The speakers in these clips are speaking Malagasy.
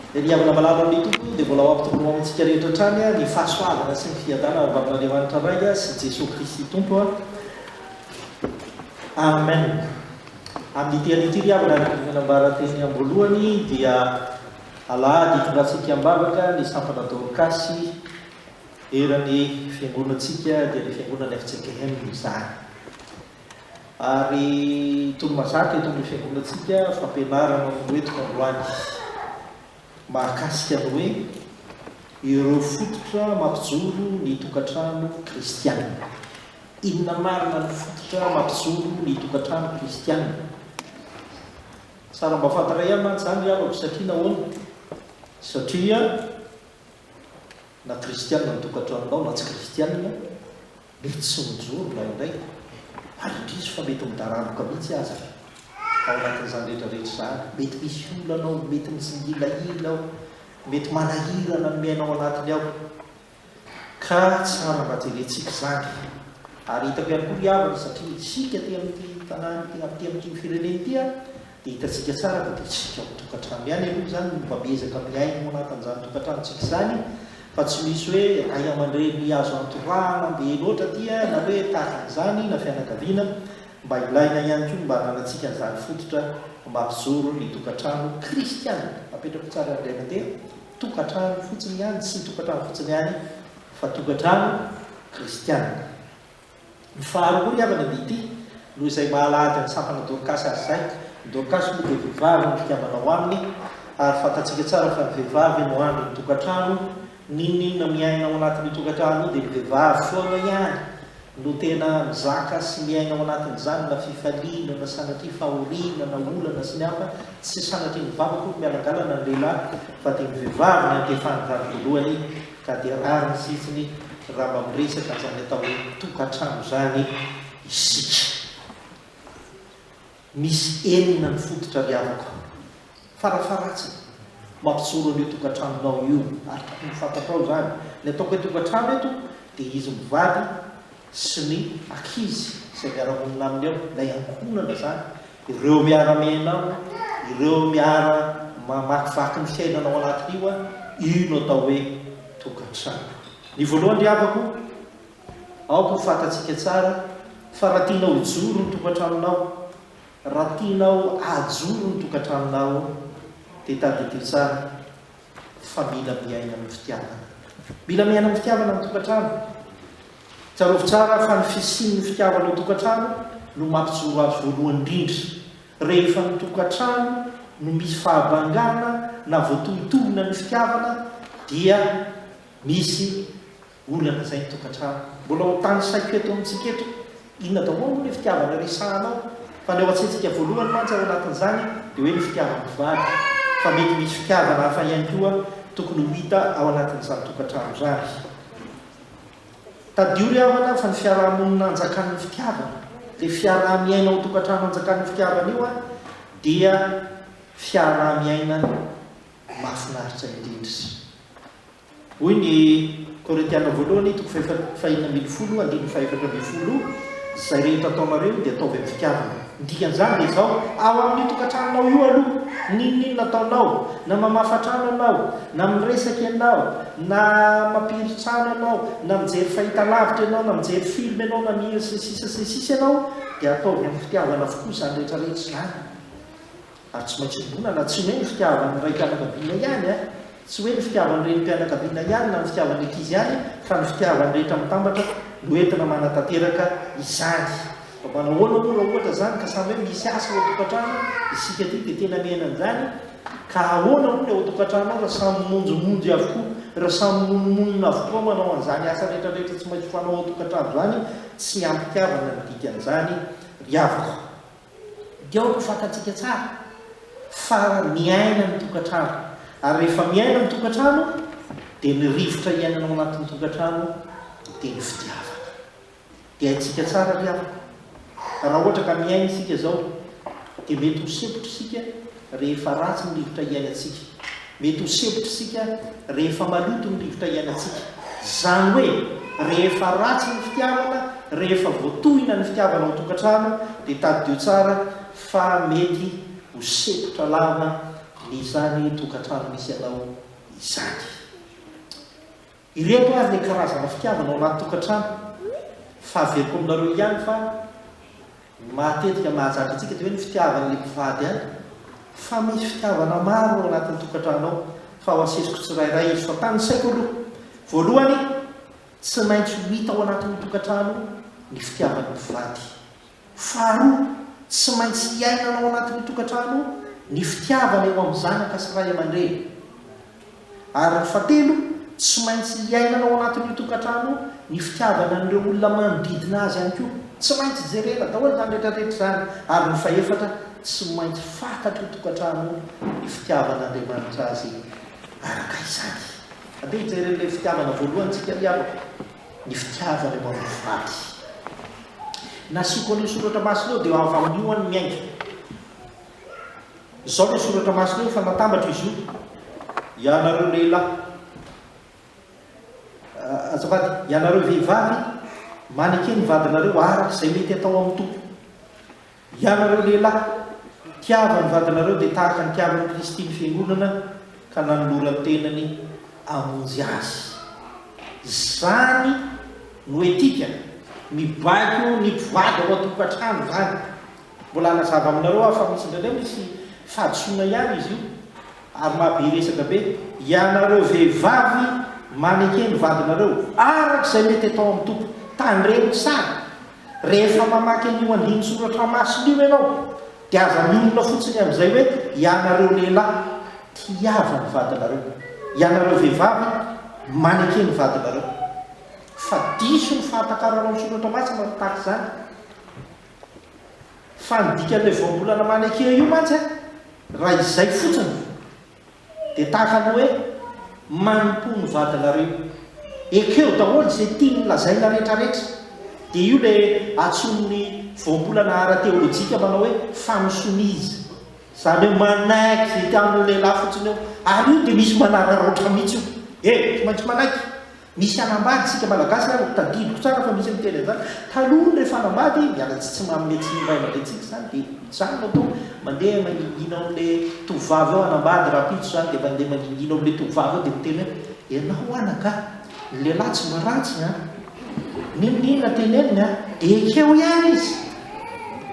Ry havana malala amin'ny Tompo dia mbola ho ampitombony ho amintsika rehetra hatrany ny fahasoavana sy ny fiadanana avy amin'Andriamanitra Ray sy Jesoa Kristy Tompo. Amen. Amin'ity an'ity ry havana araka ny nambara teny am-boalohany dia alahady hitondrantsika am-bavaka ny sampana Dorkasy eran'ny fiangonantsika dia ny fiangonan'ny FCKM izany. Ary tony mazaka eto amin'ny fiangonantsika fampianarana noentiko androany mahakasika ny hoe ireo fototra mampijoro ny tokantrano kristiana. Inona marina ny fototra mampijoro ny tokantrano kristiana? Tsara mba fantaray ahy mantsy izany ry havako satria nahoana? Satria na kristiana ny tokantranonao na tsy kristiana Mety tsy mijoro indraindray, ary indrisy fa mety midaranoka mihitsy aza. Ao anatin'izany rehetrarehetra izany, mety misy olana ao, mety mitsingilahila ao, mety manahirana ny miaina ao anatiny ao. Ka tsara mba jerentsika izany. Ary hitako ihany koa ry havana, satria isika aty amin'ity tanàna ity, aty amin'ity firenena ity, Hitantsika tsara fa dia isika ao an-tokantrano ihany aloha izany no mba miezaka miaina ao anatin'izany tokantranontsika izany fa tsy misy hoe ray aman-dreny azo antorahana be loatra aty na hoe tahaka an'izany na fianakaviana. Mba ilaina ihany koa ny mba ananantsika an'izany fototra mampijoro ny tokantrano kristiana. Apetrako tsara ry Raiamandreny, tokantrano fotsiny ihany, tsy ny tokantrano fotsiny ihany fa tokantrano kristiana. Ny faharoa ry havana dia ity, noho izay mahalahady an'i Sampana Dorcas azy izay, i Dorcas moa dia vehivavy no mpikambana ao aminy, ary fantatsika tsara fa ny vehivavy no andrin'ny tokantrano, n'inon'inona miaina ao anatin'io tokantrano io dia ny vehivavy foana ihany no tena mizaka sy miaina ao anatin'izany na fifaliana na sanatria fahoriana na olana sy ny hafa, tsy sanatria ny vava akory mialangalana ny lehilahy fa dia ny vehivavy no antefan'ny vady voalohany Ka dia rariny fifiny raha mba miresaka an'izany atao hoe tokantrano izany isika. Misy enina ny fototra ry havako. Farafaharatsiny, mampijoro an'io tokantranonao io, ary tokony ho fantatrao izany. Ny ataoko hoe tokantrano eto dia izy mivady sy ny ankizy izay miara-monina aminy ao, ilay ankohonana izany. Ireo miara-miaina aminy, ireo miara-mamakivaky ny fiainana ao anatin'io an, io no atao hoe tokantrano. Ny voalohany ry havako, aoka ho fantatsika tsara fa raha tianao hijoro ny tokantranonao, raha tianao hahajoro ny tokantranonao dia tadidio tsara fa mila miaina amin'ny fitiavana. Mila miaina amin'ny fitiavana ny tokantrano. Tsarovy tsara fa ny fisian'ny fitiavana ao an-tokantrano no mampijoro azy voalohany indrindra. Rehefa ny tokantrano no misy fahabangana na voatohintohina ny fitiavana dia misy olana izay ny tokantrano. Mbola ho tanisaiko eto amintsika eto inona daholo moa ilay fitiavana resahana ao fa ny ao an-tsaintsika voalohany mantsy ao anatin'izany dia hoe ny fitiavam-pivady fa mety misy fitiavana hafa ihany koa tokony ho hita ao anatin'izany tokantrano izany. Tadidio ry havana fa ny fiaraha-monina anjakan'ny fitiavana, le fiaraha-miaina ao an-tokantrano anjakan'io fitiavana io an, dia fiaraha-miaina mahafinaritra indrindra. Hoy ny Korintiana voalohany toko fahenina ambin'ny folo andininy fahaefatra ambin'ny folo, Izay rehetra ataonareo dia ataovy amin'ny fitiavana. Ny dikan'izany dia izao, ao amin'io tokantranonao io aloha, n'inon'inona ataonao, na mamafa trano ianao, na miresaka ianao, na mampiry trano ianao, na mijery fahitalavitra ianao, na mijery film ianao, na mihira sy ny sisa sy ny sisa ianao, dia ataovy amin'ny fitiavana avokoa izany rehetra rehetra izany. Ary tsy maintsy iombonana, tsy hoe ny fitiavan'ny raim-pianakaviana ihany an, tsy hoe ny fitiavan'ny renim-pianakaviana ihany na ny fitiavan'ny ankizy ihany fa ny fitiavan'ny rehetra mitambatra no entina manatanteraka izany. Fa manahoana moa raha ohatra izany ka samy hoe misy asa ao an-tokantrano isika aty dia tena miaina an'izany? Ka ahoana moa ny ao an-tokantrano ao raha samy mimonjomonjy avokoa, raha samy mimonomonona avokoa manao an'izany asa rehetra rehetra tsy maintsy fanao ao an-tokantrano izany? Tsy am-pitiavana ny dikan'izany ry havako. Dia ao no fantatsika tsara fa miaina ny tokantrano. Ary rehefa miaina ny tokantrano dia ny rivotra iainana ao anatin'ny tokantrano dia ny fitiavana. Dia haintsika tsara ry havana fa raha ohatra ka miaina isika izao dia mety ho sempotra isika rehefa ratsy ny rivotra iainantsika, mety ho sempotra isika rehefa maloto ny rivotra iainantsika, izany hoe rehefa ratsy ny fitiavana, rehefa voatohina ny fitiavana ao an-tokantrano dia tadidio tsara fa mety ho sempotra lava ny izany tokantrano misy anao izany. Ireto ary le karazana fitiavana ao anaty tokantrano fa averiko aminareo ihany fa ny matetika mahazatra antsika dia hoe ny fitiavana le mpivady ihany fa misy fitiavana maro ao anatin'ny tokantrano ao fa ao asesiko tsirairay izy fa tanisaiko aloha voalohany tsy maintsy ho hita ao anatin'ny tokantrano ny fitiavan'ny mpivady Faharoa, tsy maintsy iainana ao anatin'ny tokantrano ny fitiavana eo amin'ny zanaka sy ray aman-dreny. Ary ny fahatelo, tsy maintsy iainana ao anatin'io tokantrano ny fitiavana an'ireo olona manodidina azy ihany koa. Tsy maintsy jerena daholo izany rehetra rehetra izany. Ary ny fahefatra, tsy maintsy fantatry ny tokantrano ny fitiavan'Andriamanitra azy araka izany. Andeha hijery an'ilay fitiavana voalohany tsika ry havako. ny fitiavany ho an'ny faty. Ny asiako an'io soratra masina io dia ho avy amin'ny ho an'ny miainga. Izao no soratra masina io, efa natambatra izy io. Ianareo lehilahy, ah, azafady, ianareo vehivavy, maneke ny vadinareo araka izay mety atao amin'ny Tompo. Hianareo lehilahy, tiava ny vadinareo dia tahaka ny tiavan'i Kristy ny fiangonana ka nanolora ny tenany hamonjy azy. Izany no etika mibaiko ny mpivady ao an-tokantrano izany. Mbola hanazava aminareo aho fa misy indraindray misy fahadisoana ihany izy io ary mahabe resaka be. Hianareo vehivavy, maneke ny vadinareo araka izay mety atao amin'ny Tompo. Tandremo tsara Rehefa mamaky an'io andinin-tsoratra masina io ianao, dia aza miorina fotsiny amin'izay hoe ianareo lehilahy tiava ny vadinareo, ianareo vehivavy maneke ny vadinareo. Fa diso ny fahatakaranao ny soratra masina raha tahaka izany. Fa ny dikan'ilay voambolana maneke io mantsy, raha izay fotsiny, Dia tahaka ny hoe manompoa ny vadinareo. Ekeo daholo izay tiany lazaina retraretra. Dia io ilay antsoin'ny voambolana ara-teolojika manao hoe fanosonia izy. Izany hoe manaiky izay tian'ny lehilahy fotsiny eo. Ary io dia misy manararaotra mihitsy io. He, tsy maintsy manaiky. Misy hanambady isika malagasy ary tadidiko tsara fa misy miteny an'izany, taloha rehefa hanambady miala tsy manome tsiny ny ray aman-drenintsika izany dia mijanona tao mandeha mangingina ao amin'ilay tovovavy eo hanambady rahampitso izany dia mandeha mangingina ao amin'ilay tovovavy eo dia miteny hoe ianao anaka ny lehilahy tsy mba ratsy an! n'inon'inona teneniny an! dia ekeo ihany izy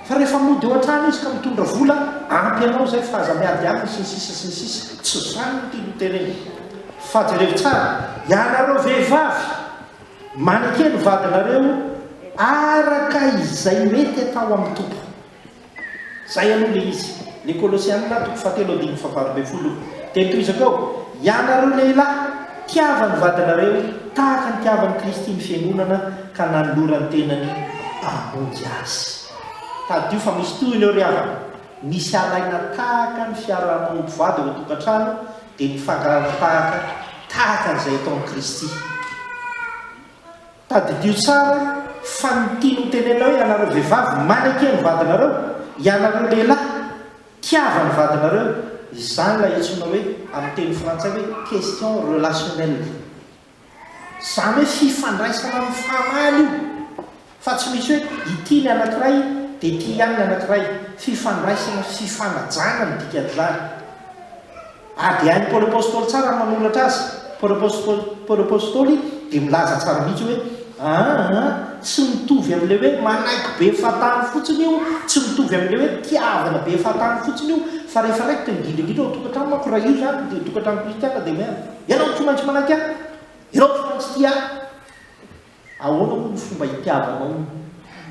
fa rehefa mody eo an-trano izy ka mitondra vola ampy anao izay fa aza miady aminy sy ny sisa sy ny sisa, tsy izany no tiany hotenenina. Fa jereo tsara, ianareo vehivavy, maneke ny vadinareo araka izay mety atao amin'ny Tompo. Izay aloha ilay izy. Ny Kolosiana, toko fahatelo andininy fahavalo ambin'ny folo. Dia tohizako eo, ianareo lehilahy, tiava ny vadinareo tahaka ny nitiavan'i Kristy ny fiangonana ka nanolora ny tenany hamonjy azy. Tadidio fa misy tohiny eo ry havana, misy alaina tahaka ny fiaraha-manompo vady ao an-tokantrano, dia nifangaraka tahaka tahaka an'izay ataon'i Kristy. Tadidio tsara fa ny tiany hotenenina hoe ianareo vehivavy maneke ny vadinareo, ianareo lehilahy tiava ny vadinareo, izany ilay antsoina hoe amin'ny teny frantsay hoe question relationnelle. Izany hoe fifandraisana amin'ny fahamaly io fa tsy misy hoe ity ny anankiray dia ity ihany ny anankiray. Fifandraisana, fifanajana ny dikan'izany. Ary dia hain'i Paoly Apostoly tsara ny manoratra azy. Paoly Apostoly, Paoly Apostoly dia milaza tsara mihitsy hoe, Aa, tsy mitovy amin'ilay hoe manaiky be fahatany fotsiny io, tsy mitovy amin'ilay hoe tiavina be fahatany fotsiny io, fa rehefa raikitra indrindra indrindra ao an-tokantrano manko raha io izany dia tokantrano kristiana dia mena. Ianao tsy maintsy manaiky ahy. Ianao tsy maintsy tia ahy. Ahoana moa ny fomba hitiavanao ny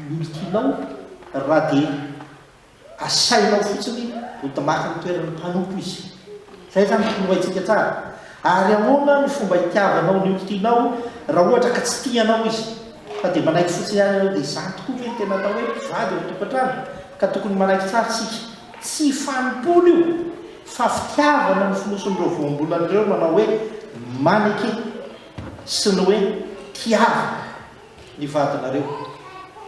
olon-tianao raha dia asainao fotsiny ho damaky ny toeran'ny mpanompo izy? Izay izany no tokony ho haintsika tsara. Ary ahoana ny fomba hitiavanao ny olon-tianao raha ohatra ka tsy tia anao izy, fa dia manaiky fotsiny ihany ianao? Dia izany tokoa ve no tena atao hoe mpivady ao an-tokantrano? Ka tokony manaiky tsara isika. Tsy fanompoana io fa fitiavana no fonosin'ireo voambolana ireo manao hoe maneke sy ny hoe tiavina ny vadinareo.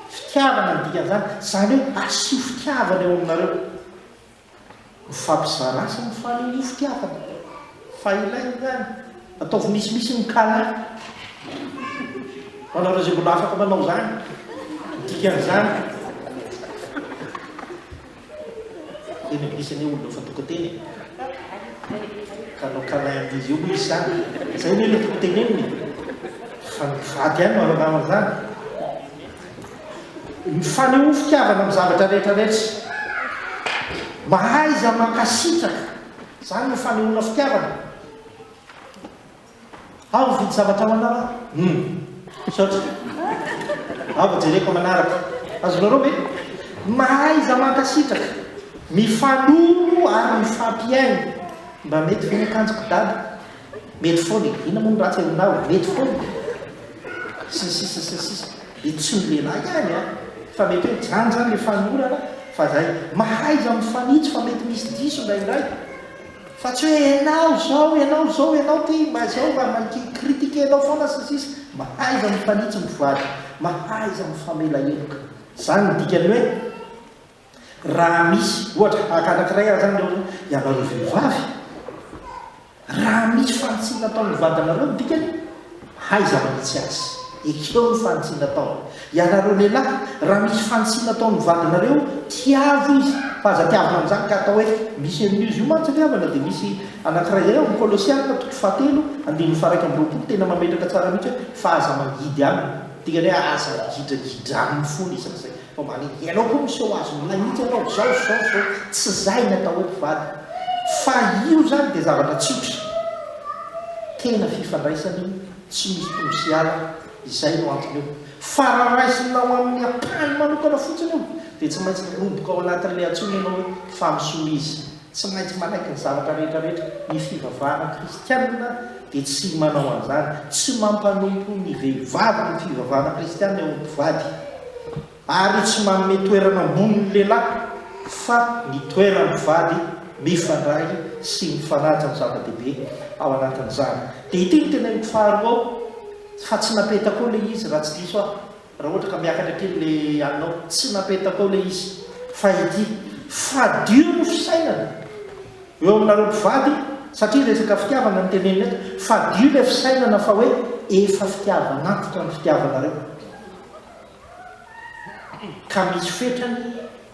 Fitiavana ny dikan'izany, izany hoe asio fitiavana eo aminareo. Mifampizara azy ny fanehoan'io fitiavana. Fa ilay ihany, ataovy misimisy ny kala ho anareo izay mbola afaka manao izany, ny dikan'izany. Teny anglisy anie olona efa toko teny e. Ka hanao kala an'izy io moa izy sa? Izay anie ilay toko tenenina e. Fa ny mpivady ihany no ahalalana an'izany. Mifanehoa fitiavana amin'ny zavatra rehetra rehetra. Mahaiza mankasitraka. Izany no fanehoana fitiavana. Aho mividy zavatra ho anao aho. Humm. Misaotra. Aho vao jereko aman'araka. Azonareo ve? Mahaiza mankasitraka, mifanolo ary mifampihaino. Mba mety ve ny akanjoko dada? Mety foana e! Inona moa no ratsy aminao e! Mety foana e! sy ny sisa sy ny sisa. Dia tsy ny lehilahy ihany an! Fa mety hoe zany zany le fanolorana fa zay mahaiza mifanitsy fa mety misy diso indraindray fa tsy hoe enao zao enao zao enao ty mba zao mba manki critique enao foana sy ny sisa. Mahaiza mifanitsy mivoady, mahaiza mifamela heloka. Zany ny dikany hoe. Raha misy, ohatra, tahaka anankiray ary izany ireo ianareo vehivavy, raha misy fanitsiny nataon'ny vadinareo ny dikany, haiza manitsy azy. Ekeo ny fanitsiny nataony. Ianareo lehilahy, raha misy fanitsiny nataon'ny vadinareo, tiavo izy, fa aza tiavina amin'izany ka atao hoe misy an'io izy io mantsy ry havana dia misy anankiray izay ao amin'ny Kolosiana toko fahatelo andininy faha iraika amby roapolo tena mametraka tsara mihitsy hoe fa aza mangidy aminy. Dikany hoe aza migidragidra aminy foana izy amin'izay. Vao mba le ianao koa miseho azy milay mihitsy ianao zao sy zao sy zao, tsy zay ny atao hoe mpivady fa io zany dia zavatra tsotra, tena fifandraisana io tsy misy tonga sy ala, izay no antony io fa raha raisinao amin'ny ampahany manokana fotsiny io dia tsy maintsy miroboka ao anatin'ilay antsoina ianao hoe fa misolo izy. Tsy maintsy manaiky ny zavatra rehetrarehetra ny fivavahana kristianina dia tsy manao an'izany. Tsy mampanompo ny vehivavy ny fivavahana kristianina eo amin'ny mpivady, ary tsy manome toerana ambony ny lehilahy, fa ny toeran'ny mpivady mifandray sy mifanaja no zava-dehibe ao anatin'izany. Dia ity no teneniko faharoa ao, fa tsy napetako eo ilay izy raha tsy diso aho. Raha ohatra ka miakatra aty ilay alinao, tsy napetako ao ilay izy, fa ity. Fadio ny fisainana eo aminareo mpivady, satria resaka fitiavana no tenenina eto. Fadio ilay fisainana fa hoe efa fitiavan'antoka ny fitiavanareo, ka misy fetrany.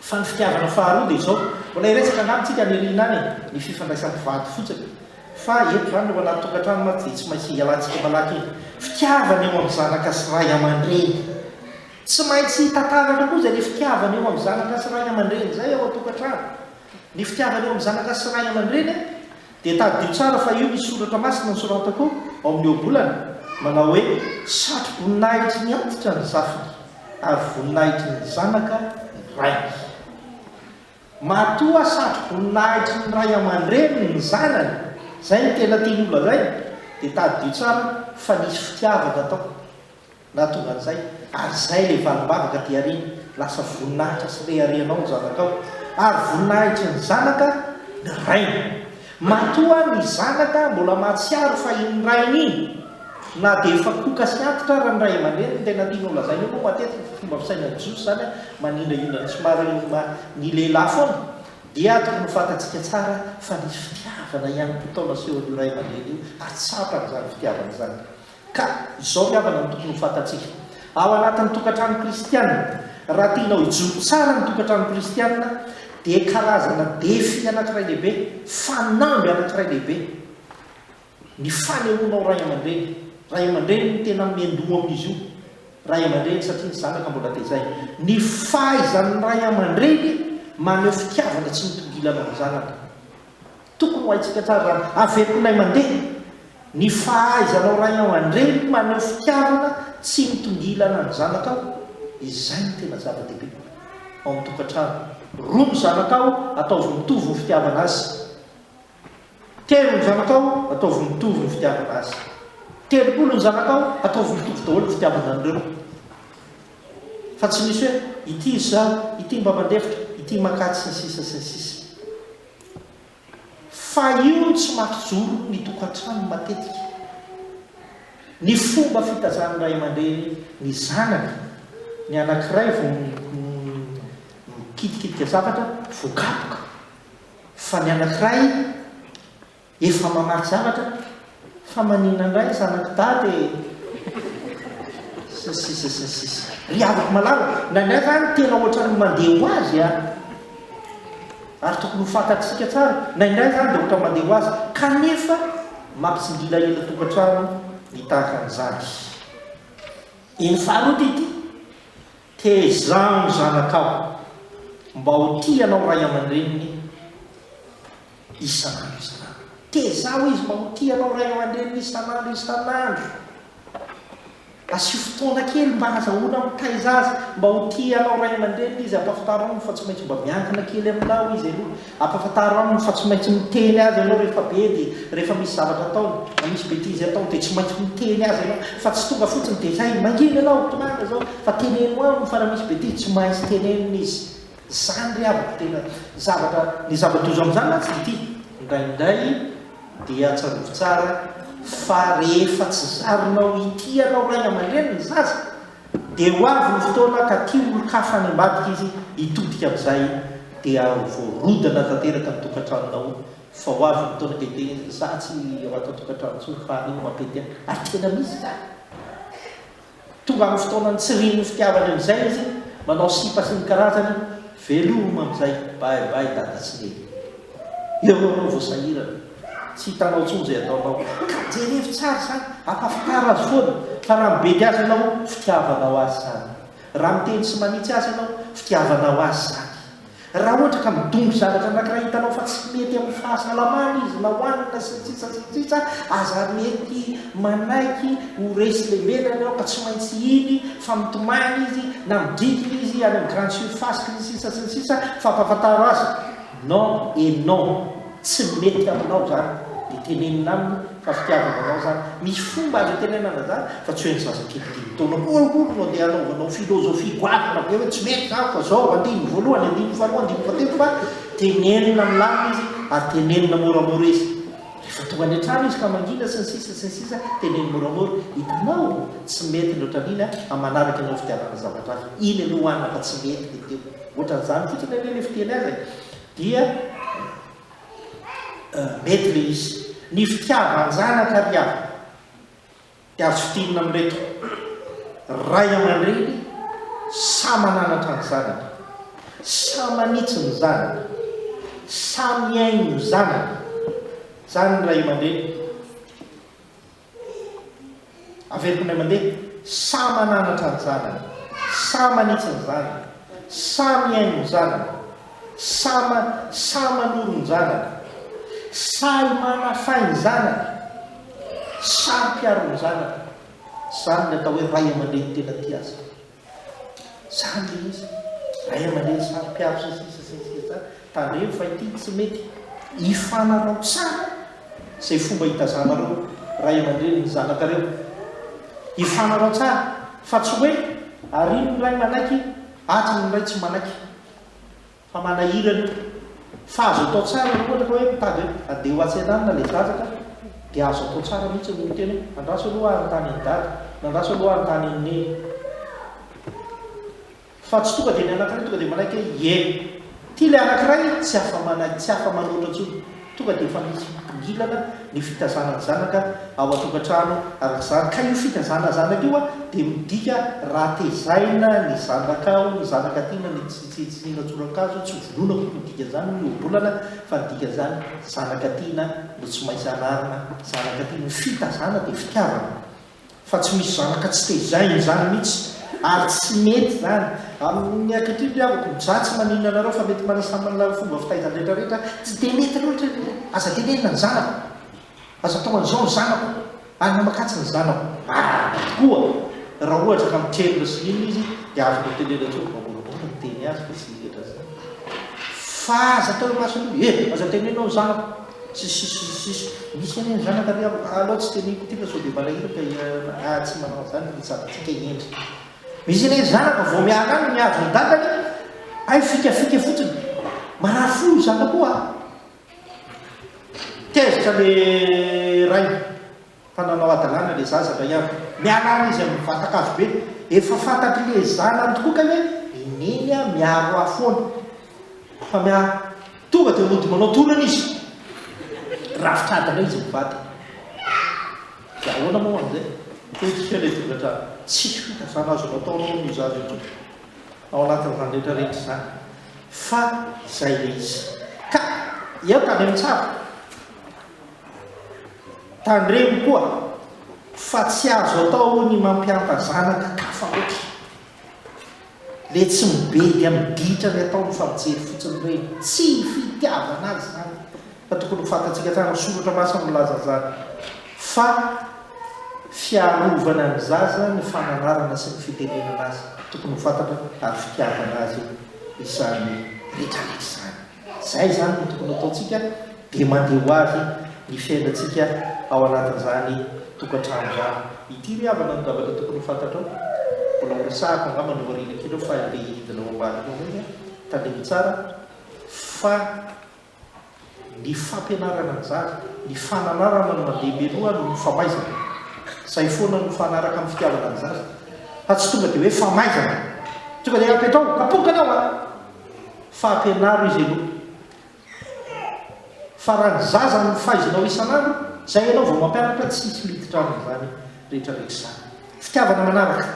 Fa ny fitiavana faharoa dia izao, mbola hiresaka angamba tsika any aoriana any e, ny fifandraisan'ny mpivady fotsiny, fa eto izany eo anaty tokantrano mantsy dia tsy maintsy hialantsika malaky iny fitiavana eo amin'ny zanaka sy ray aman-dreny, tsy maintsy tataratra koa izay le fitiavana eo amin'ny zanaka sy ray aman-dreny izay ao an-tokantrano, ny fitiavana eo amin'ny zanaka sy ray aman-dreny a! Dia tadidio tsara fa io ny soratra masina nosoratako ao amin'ny ohabolana, manao hoe, Satro-boninahitry ny antitra ny zafiny, ary voninahitry ny zanaka ny rainy. Matoa satro-boninahitry ny ray aman-dreniny ny zanany, izay no tena tiany holazaina, dia tadidio tsara fa nisy fitiavana tao. Na tonga an'izay, ary izay ilay valim-bavaka aty aoriana, lasa voninahitra sy reharehanao ny zanakao, ary voninahitry ny zanaka ny rainy. Matoa ny zanaka mbola mahatsiaro fa iny rainy iny, na dia efa koka sy antitra ara ny ray aman-dreniny, ny tena tiany holazaina eo moa matetika fa fomba fisainan'ny Jiosy izany, manindrahindra ny somary ny lehilahy foana, dia tokony ho fantatsika tsara fa nisy fitiavana ihany koa tao nasehon'io ray aman-dreny io, ary tsapany izany fitiavana izany. Ka izao ny havana no tokony ho fantatsika ao anatin'ny tokantrano kristiana, raha tianao hijoro tsara ny tokantrano kristiana dia karazana défi anankiray lehibe, fanamby anankiray lehibe ny fanehoanao ray aman-dreny, ray aman-dreny no tena miandoha amin'izy io, ray aman-dreny satria ny zanaka mbola tezaina, ny fahaizan'ny ray aman-dreny maneho fitiavana tsy mitongilana ny zanaka. Tokony ho haintsika tsara izany. Avekonay mandeha ny fahaizanao ray an, andreny maneho fitiavana tsy mitongilana ny zanakao, izay no tena zava-dehibe ao amin'ny tokantrano. Roa ny zanakao, ataovy mitovy ny fitiavana azy. Telo ny zanakao, ataovy mitovy ny fitiavana azy. Telopolo ny zanakao, ataovy mitovy daholo ny fitiavana an'ireo. Fa tsy misy hoe ity izaho, ity mba mandefitra, ity makà, sy ny sisa sy ny sisa. Fa io no tsy maty jono ny tokantranony matetika. Ny fomba fitazan'ny ray aman-dreny ny zanany, ny anankiray vao mikitikitika zavatra, voakapoka, fa ny anankiray. Efa mamaky zavatra fa maninona indray zanak'i dada e! sy ny sisa sy ny sisa. Ry havako malala, indraindray zany tena ohatran'ny mandeha ho azy a! ary tokony ho fantatsika tsara, indraindray zany dia ohatra mandeha ho azy, kanefa mampitsingila ela tokantrano ny tahaka an'izany. Eny faharoa ity, Tezaho ny zanakao mba ho tia anao ray aman-dreniny isan'andro isan'andro. Tezaho izy mba ho tia anao ray aman-dreniny isan'andro isan'andro. Asio fotoana kely mba hazahoana mitaiza azy mba ho tia anao ray aman-dreniny izy. Ampahafantarao fa tsy maintsy mba miankina kely aminao izy aloha. Ampahafantaro aminy fa tsy maintsy miteny azy ianao rehefa be dia rehefa misy zavatra ataony na misy betizy ataony dia tsy maintsy miteny azy ianao fa tsy tonga fotsiny dia hay mangina ianao tohana izao fa teneno aminy fa raha misy betizy tsy maintsy tenenina izy izany ry havako tena zavatra Ny zava-doza amin'izany mantsy dia ity, indraindray dia tsarovy tsara fa rehefa tsy zarinao hitia anao ray aman-dreny ny zaza Dia ho avy ny fotoana ka tia olon-kafa any ambadika izy hitodika amin'izay dia ho voarodana tanteraka ny tokantranonao fa ho avy ny fotoana ka hiteny izy, za tsy ao ato an-tokantrano intsony fa aleo mampety ahy ary tena misy izany. Tonga amin'ny fotoana nitsirian'ny fitiavany amin'izay izy, manao sipa sy ny karazany, veloma amin'izay, bye bye dada sy neny. Eo ianao vao sahirana. Tsy hitanao intsony izay ataonao. Ka jerevo tsara izany, ampahafantar azy foana fa raha mibedy azy ianao, fitiavana ho azy izany. Raha miteny sy manitsy azy ianao, fitiavana ho azy izany. Raha ohatra ka midongy zavatra anankiray hitanao fa tsy mety amin'ny fahasalamany izy na hohanina sy ny sisa sy ny sisa, aza mety manaiky ho resy lemena ianao ka tsy maintsy hiny fa mitomany izy na midrikina izy any amin'ny grande surface sy ny sisa sy ny sisa fa ampahafantaro azy. Non et non! Tsy mety aminao zany de tenenina aminy fa fitiavana anao zany, misy fomba azo itenenana zany fa tsy hoe ny zaza kely dimy taona kolikoly no andeha anaovanao philosophie goavana be hoe tsy mety zany fa zao, andininy voalohany, andininy faharoa, andininy fahatelo fa tenenina milamina izy ary tenenina moramora izy rehefa tonga any an-trano izy ka mangina sy ny sisa sy ny sisa teneno moramora, hitanao? Tsy mety ny otran'iny an, amanaraka ianao fitiavana zavatra hafa, iny aloha hoanina fa tsy mety le teo. Ohatran'izany fotsiny anie le fiteny azy e! Dia mety le izy. Ny fitiavan-janaka ry havana dia azo fidinina amin'ireto, Ray aman-dreny samy mananatra ny zanany, samy manitsy ny zanany, samy mihaino ny zanany. Izany ny ray aman-dreny. Averiko indray mandeha, samy mananatra ny zanany, samy manitsy ny zanany, samy mihaino ny zanany, samy samy manoro ny zanany, sahy manafay ny zanany, sahy mpiaro ny zanany. Izany no atao hoe ray aman-dreny tena tia azy. Zany ilay izy. Ray aman-dreny samy mpiaro sy ny sisa sy ny sisa tsara. Tandremo fa ity tsy mety. Ifanarao tsara izay fomba itazanareo ray aman-dreny ny zanakareo. Ifanarao tsara fa tsy hoe ary iny ny ray manaiky, atsy ny ray tsy manaiky. Fa manahirana io. Fa azo atao tsara raha ohatra ka hoe mitady hoe handeha ho atsy andanina ilay zaza ka dia azo atao tsara mihitsy ny miteny hoe andraso aloha aho hanontany an'i dada na andraso aloha aho hanontany an'i neny. Fa tsy tonga dia ny anankiray tonga dia manaiky hoe ie. Ity ilay anankiray tsy afa-manaiky, tsy afa-manoatra intsony. Tonga dia efa misy hitongilana ny fitazanan'ny zanaka ao an-tokantrano araka izany, ka io fitazana zanaka io dia midika raha tezaina ny zanaka ao, ny zanaka tiana, ny tsy tsitsiniana tsoran-kazo, tsy vonoina koa no dikan'izany, ny ohabolana, fa ny dikan'izany zanaka tiana no tsy maintsy anarina, zanaka tiana, ny fitazana dia fitiavana. fa tsy misy zanaka tsy tezahina izany mitsy ary tsy mety izany amin'ny ankehitriny ry havako mzah tsy maninona anareo fa mety mana samy manana ny fomba fitaizany rehetra rehetra tsy dia mety loatra ny hoe aza tenenina ny zanako aza atao an'izao ny zanako ary mamakatsa ny zanako marary tokoa raha ohatra ka mitrerona sy inona izy dia azoko hotenenina tsony vaoborabory ny miteny azy fa tsy hiletra zany fa aza atao eo imason'olona e aza tenenina ny zanako Sy sisa sy sisa. Misy anie ny zanaka ry havako, alao tsy teneniko ity fa sao dia malahelo ka ianareo na ah tsy manao an'izany ny mpitsabontsika hendry. Misy anie ny zanaka vao miala any mihazo ny dadany hay fikafika fotsiny. Marary fo io zanako io ah. Tezitra le ray. Fa nanao hadalana ilay zaza indray andro. Miala ary izy amin'ny vatan-kazo be. Efa fantatr'ilay zanany tokoa kay hoe i Neny miaro ahy foana. Fa miaro. Tonga dia mody manao torana izy. Rafitra adina izy mivady. Dia ahoana moa amin'izay? Potika ilay tokantrano. Tsy fitaizana azo natao aloha hono io zaza io tompoko ao anatin'izany rehetra rehetra izany. Fa izay ilay izy. Ka eo tany amin'ny tsara. Tandremo koa fa tsy azo atao ny mampianta zanaka kafa loatra. Le tsy mibedy amin'ny ditra ny ataony fa mijery fotsiny ireny. Tsy fitiavana azy izany fa tokony ho fantatsika tsara, ny soratra masina milaza an'izany fa fiarovana ny zaza ny fananarana sy ny fitenenana azy. Tokony ho fantatra ary fitiavana azy izany rehetra rehetra izany. Izay izany no tokony hataontsika dia mandeha ho avy ny fiainantsika ao anatin'izany tokantrano izany. Ity ry havana no zavatra tokony ho fantatrao, mbola horesahako angamba ny aoriana kely eo fa ilay hidina ao ambadika ao indray dia tandremo tsara fa ny fampianarana ny zaza, ny fananarana no mandeha mialoha noho ny famaizana. Izay foana no mifanaraka amin'ny fitiavana ny zaza fa tsy tonga dia hoe famaizana, tonga dia apetraho, kapoka ianao a! Fa ampianaro izy aloha. Fa raha ny zaza no faizanao isan'andro, izay ianao vao mampianatra, tsy hisy miditra amin'izany rehetrarehetra izany. Fitiavana manaraka,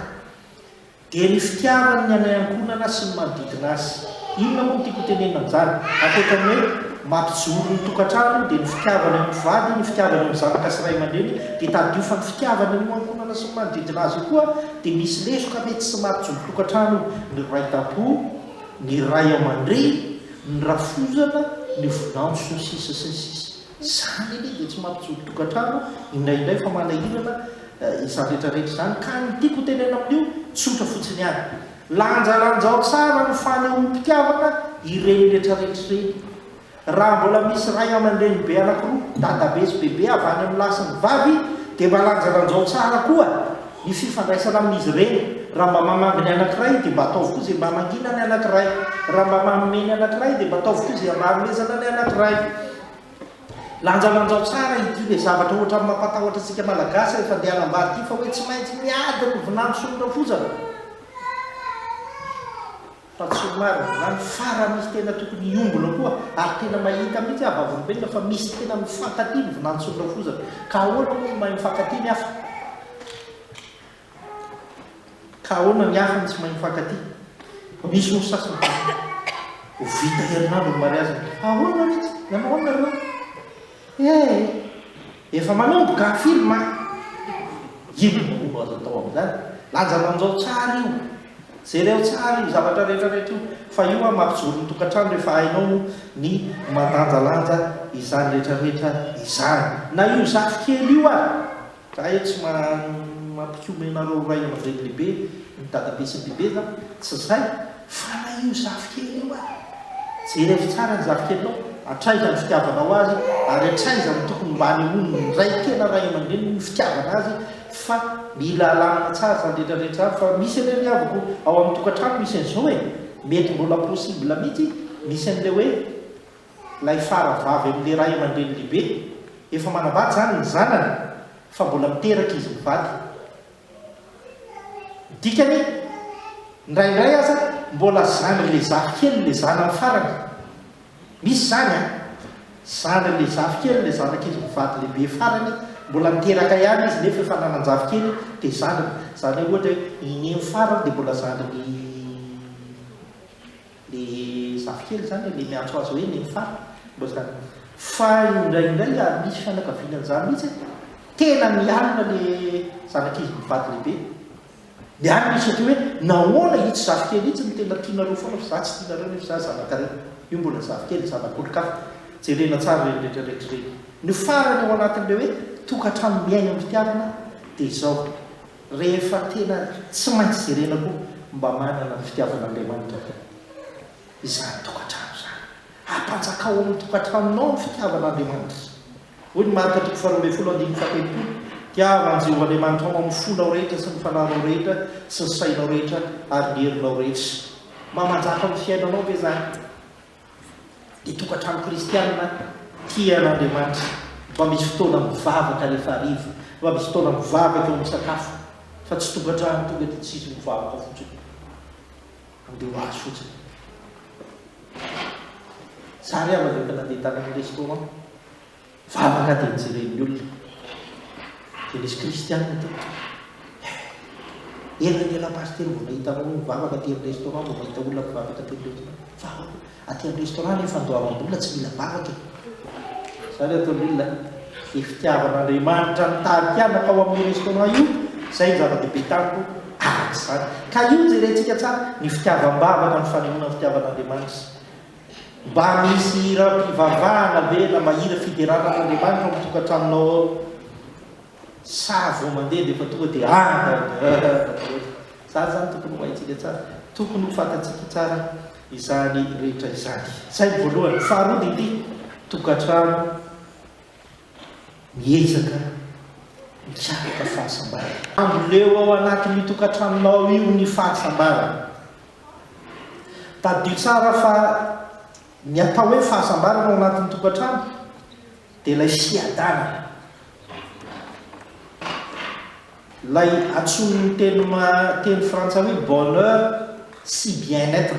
dia ny fitiavany ny anay ankohonana sy ny manodidina azy. Inona moa no tiako hotenenina amin'izany? Ankoatra ny hoe mampijoro ny tokantrano, dia ny fitiavany eo amin'ny vady, ny fitiavany eo amin'ny zanaka sy ray aman-dreny, dia tadidio fa ny fitiavany eo amin'ny ankohonana sy ny manodidina azy io koa dia misy lesoka mety tsy maha mpijoro tokantrano ny ray tampo, ny ray aman-dreny, ny rafozana, ny vinanto sy ny sisa sy ny sisa. Izany anie dia tsy mampijoro tokantrano indraindray fa manahirana izany rehetra rehetra izany ka ny tiako hotenena amin'io tsotra fotsiny ihany, lanjalanjao tsara ny fanehoam-pitiavana ireny rehetra rehetra ireny. Raha mbola misy ray aman-drenibe anankiroa, dadabe sy bebe, avy any amin'ny lahy sy ny vavy, dia mba lanjalanjao tsara koa ny fifandraisana amin'izy ireny. Raha mba mamangy ny anankiray, dia mba ataovy koa izay mba mangina ny anankiray. Raha mba manome ny anankiray, dia mba ataovy koa izay mba hanomezana ny anankiray. Lanjalanjao tsara ity ilay zavatra ohatran'ny mampatahotra antsika Malagasy rehefa handeha hanambady ity, fa hoe tsy maintsy miady ny vinanto sy ny rafozana. Fa tsy ho marina izany fa raha misy tena tokony hiombona koa ary tena mahita mihitsy aho vavolombelona fa misy tena mifankatia ny vinantson'ny rafozana ka ahoana moa no mahay mifankatia ny hafa? Ka ahoana ny hafa no tsy mahay mifankatia? Misy ory sasany fa ho vita herinandro ny mariaziny. Ahoana mihitsy? Nanao ahoana nareo? Hey! Efa manomboka film a! Inona moa no azo atao amin'izany? Lanjalanjao tsara io! Jereo tsara io zavatra rehetrarehetra io fa io an mampijoro ny tokantrano rehefa hainao moa ny mandanjalanja izany rehetrarehetra izany. Na io zafikely io ary Zahay tsy mampikomy anareo ho ray aman-dreny lehibe ny dadabe sy ny bebeza, tsy zay? Fala io zafikely io a! Jereo tsara ny zafikelinao, atraiza ny fitiavanao azy ary atraiza no tokony mba anehoany ny ray tena ray aman-dreniny ny fitiavana azy fa mila alamina tsara zany rehetra rehetra zany fa misy anie ny havako ao amin'ny tokantrano misy an'izao e! Mety mbola possible mihitsy misy an'ilay hoe ilay fara vavy amin'ilay ray aman-dreny lehibe, efa manambady izany ny zanany fa mbola miteraka izy mivady. Ny dikany, indraindray aza mbola zandry ilay zafikely ilay zanany farany. Misy izany an! Zandry ilay zafikely ilay zanak'izy mivady lehibe farany, mbola niteraka ihany izy nefa efa nanan-jafikely dia zandriny. Izany hoe ohatra hoe i Neny farany dia mbola zandrin'i Le zafikely zany le miantso azy hoe neny fara mba zany fa indraindray ary misy fianakaviana an'zany mihitsy e tena mialona le zanak'izy mivady lehibe mialona izy satria hoe nahoana itsy zafikely itsy no tena tianareo foana fa za tsy tianareo nefa za zanakareo io mbola zafikely zanak'olon-kafa jerena tsara reny retraretra reny ny farany ao anatin'le hoe tokantrano miaina am-pitiavana de zao Rehefa tena tsy maintsy jerena koa mba manana ny fitiavan'Andriamanitra ve izany tokantrano izany? Hapanjaka ao amin'ny tokantranonao ny fitiavan'Andriamanitra. Hoy ny Marka toko faharoa ambin'ny folo andininy fahatelopolo, Tiavo an'i Jehovah Andriamanitrao amin'ny fonao rehetra sy ny fanahinao rehetra sy ny sainao rehetra ary ny herinao rehetra. Mamanjaka ao amin'ny fiainanao ve izany? Ny tokantrano kristiana tia an'Andriamanitra mba misy fotoana mivavaka rehefa hariva, mba misy fotoana mivavaka eo misakafo, fa tsy tokantrano tonga dia tsisy mivavaka fotsiny, handeha ho azy fotsiny. Za re aho rehefa nandeha tany amin'ny restaurant, Vavaka dia jeren'ny olona. Dia nisy kristianina teo. Eh! Ela ny ela pasitera vao nahita anao mivavaka aty amin'ny restaurant, vao mahita olona mivavaka aty amin'ny restaurant. Vavaka! Aty amin'ny restaurant ilay fandoavam-bola tsy mila vavaka e! Izany ato amin'ny olona an! Dia fitiavan'Andriamanitra nitarika ahy nankao amin'io restaurant io, izay no zava-dehibe tamiko araka izany. Ka io jerentsika tsara, ny fitiavam-bavaka, ny fanehoana ny fitiavan'Andriamanitra. Mba misy hiram-pivavahana ve na mahira fiderana an'Andriamanitra ao amin'ny tokantranonao ao? Sa vao mandeha dia efa tonga dia ah da da. Izany izany tokony ho haintsika tsara, tokony ho fantatsika tsara izany rehetra izany. Izay ny voalohany. Faharoa dia ity, tokantrano miezaka mikaroka fahasambarana. Amboleo ao anatin'io tokantranonao io ny fahasambarana. Tadidio tsara fa ny atao hoe fahasambarana ao anatin'ny tokantrano dia ilay fiadanana. Ilay antsoin'ny teny teny frantsay hoe bonheur sy bien être.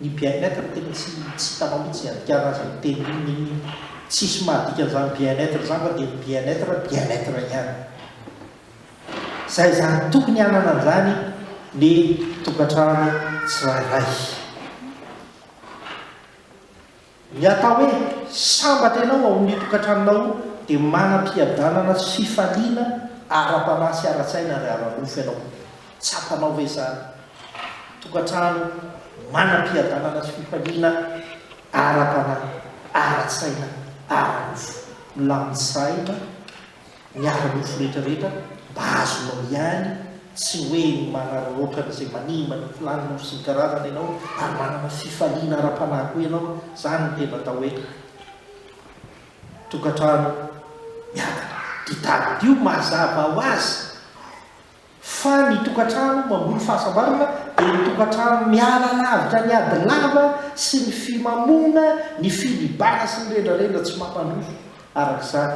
Ny bien être tena tsy tsy hitanao mihitsy iadikarana azy amin'ny teny inona inona iny. Tsisy mahadikan'izany bien être izany fa dia ny bien être, bien être ihany. Izay izany, tokony hanana an'izany ny tokantrano tsirairay. Ny atao hoe sambatra ianao ao amin'ny tokantranonao dia manam-piadanana sy fifaliana ara-panahy sy ara-tsaina ary ara-nofo ianao. Tsapanao ve izany? Tokantrano manam-piadanana sy fifaliana ara-panahy, ara-tsaina, ara-nofo. Milamin-tsaina. ny ara-nofo rehetrarehetra mba azonao ihany, tsy hoe ny manararaotra an'izay manimba ny filàn'ny nofo sy ny karazana ianao ary manana fifaliana ara-panahy koa ianao, izany no tena atao hoe tokantrano miadana. Ity tadidio mazava ho azy. Fa ny tokantrano mamboly fahasambarana dia ny tokantrano miala lavitra ny ady lava sy ny fimamoana, ny filibana sy ny rendrarendra tsy mampandroso. Araka izany,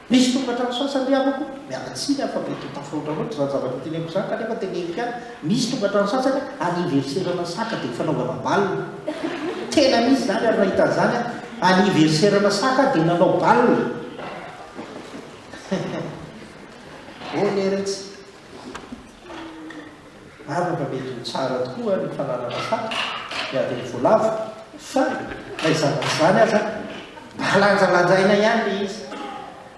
misy tokantrano sasany ry havako, miala tsiny aho fa mety ho tafahoatra loatra izany zavatra teneniko izany kanefa teneniko ihany, misy tokantrano sasany aniverserana saka dia fanaovana bal. Tena misy izany ary nahita an'izany aho, aniverserana saka dia nanao bal. Eny eretsy. Marina fa mety ho tsara tokoa ny fananana fako, ny adin'ny voalavo, fa na izany na izany aza, mba lanjalanjaina ihany ilay izy.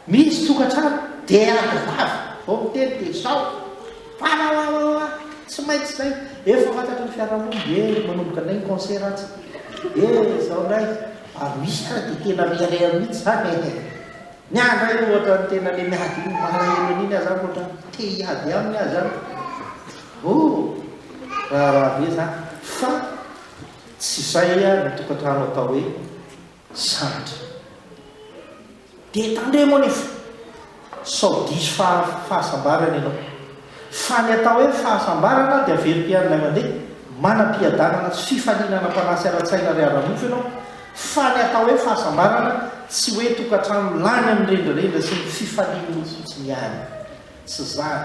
Misy tokantrano, dia ady vavy vao miteny dia izao, Wawawawawa, tsy maintsy izay, efa fantatry ny fiarahamonina, dia manomboka indray ny concert atsy, dia izao indray, ary misy ary dia tena mirehareha mihitsy izany e. Ny ahy ndray ohatra ny tena le miady iny malahelo an'iny aza aho ohatra ny te hiady aminy aza aho oh raharaha be za fa tsy izay aho ny tokantrano atao hoe sambatra dia tandremo anefa sao diso fahasambarana ianao Fa ny atao hoe fahasambarana dia velom-piainanay mandeha, manam-piadanana sy fifaliana ara-panahy sy ara-tsaina ary ara-nofo ianao, fa ny atao hoe fahasambarana tsy hoe tokantrano lany amin'ny rendrarendra sy ny fifalian'olona fotsiny ihany. Tsy izany.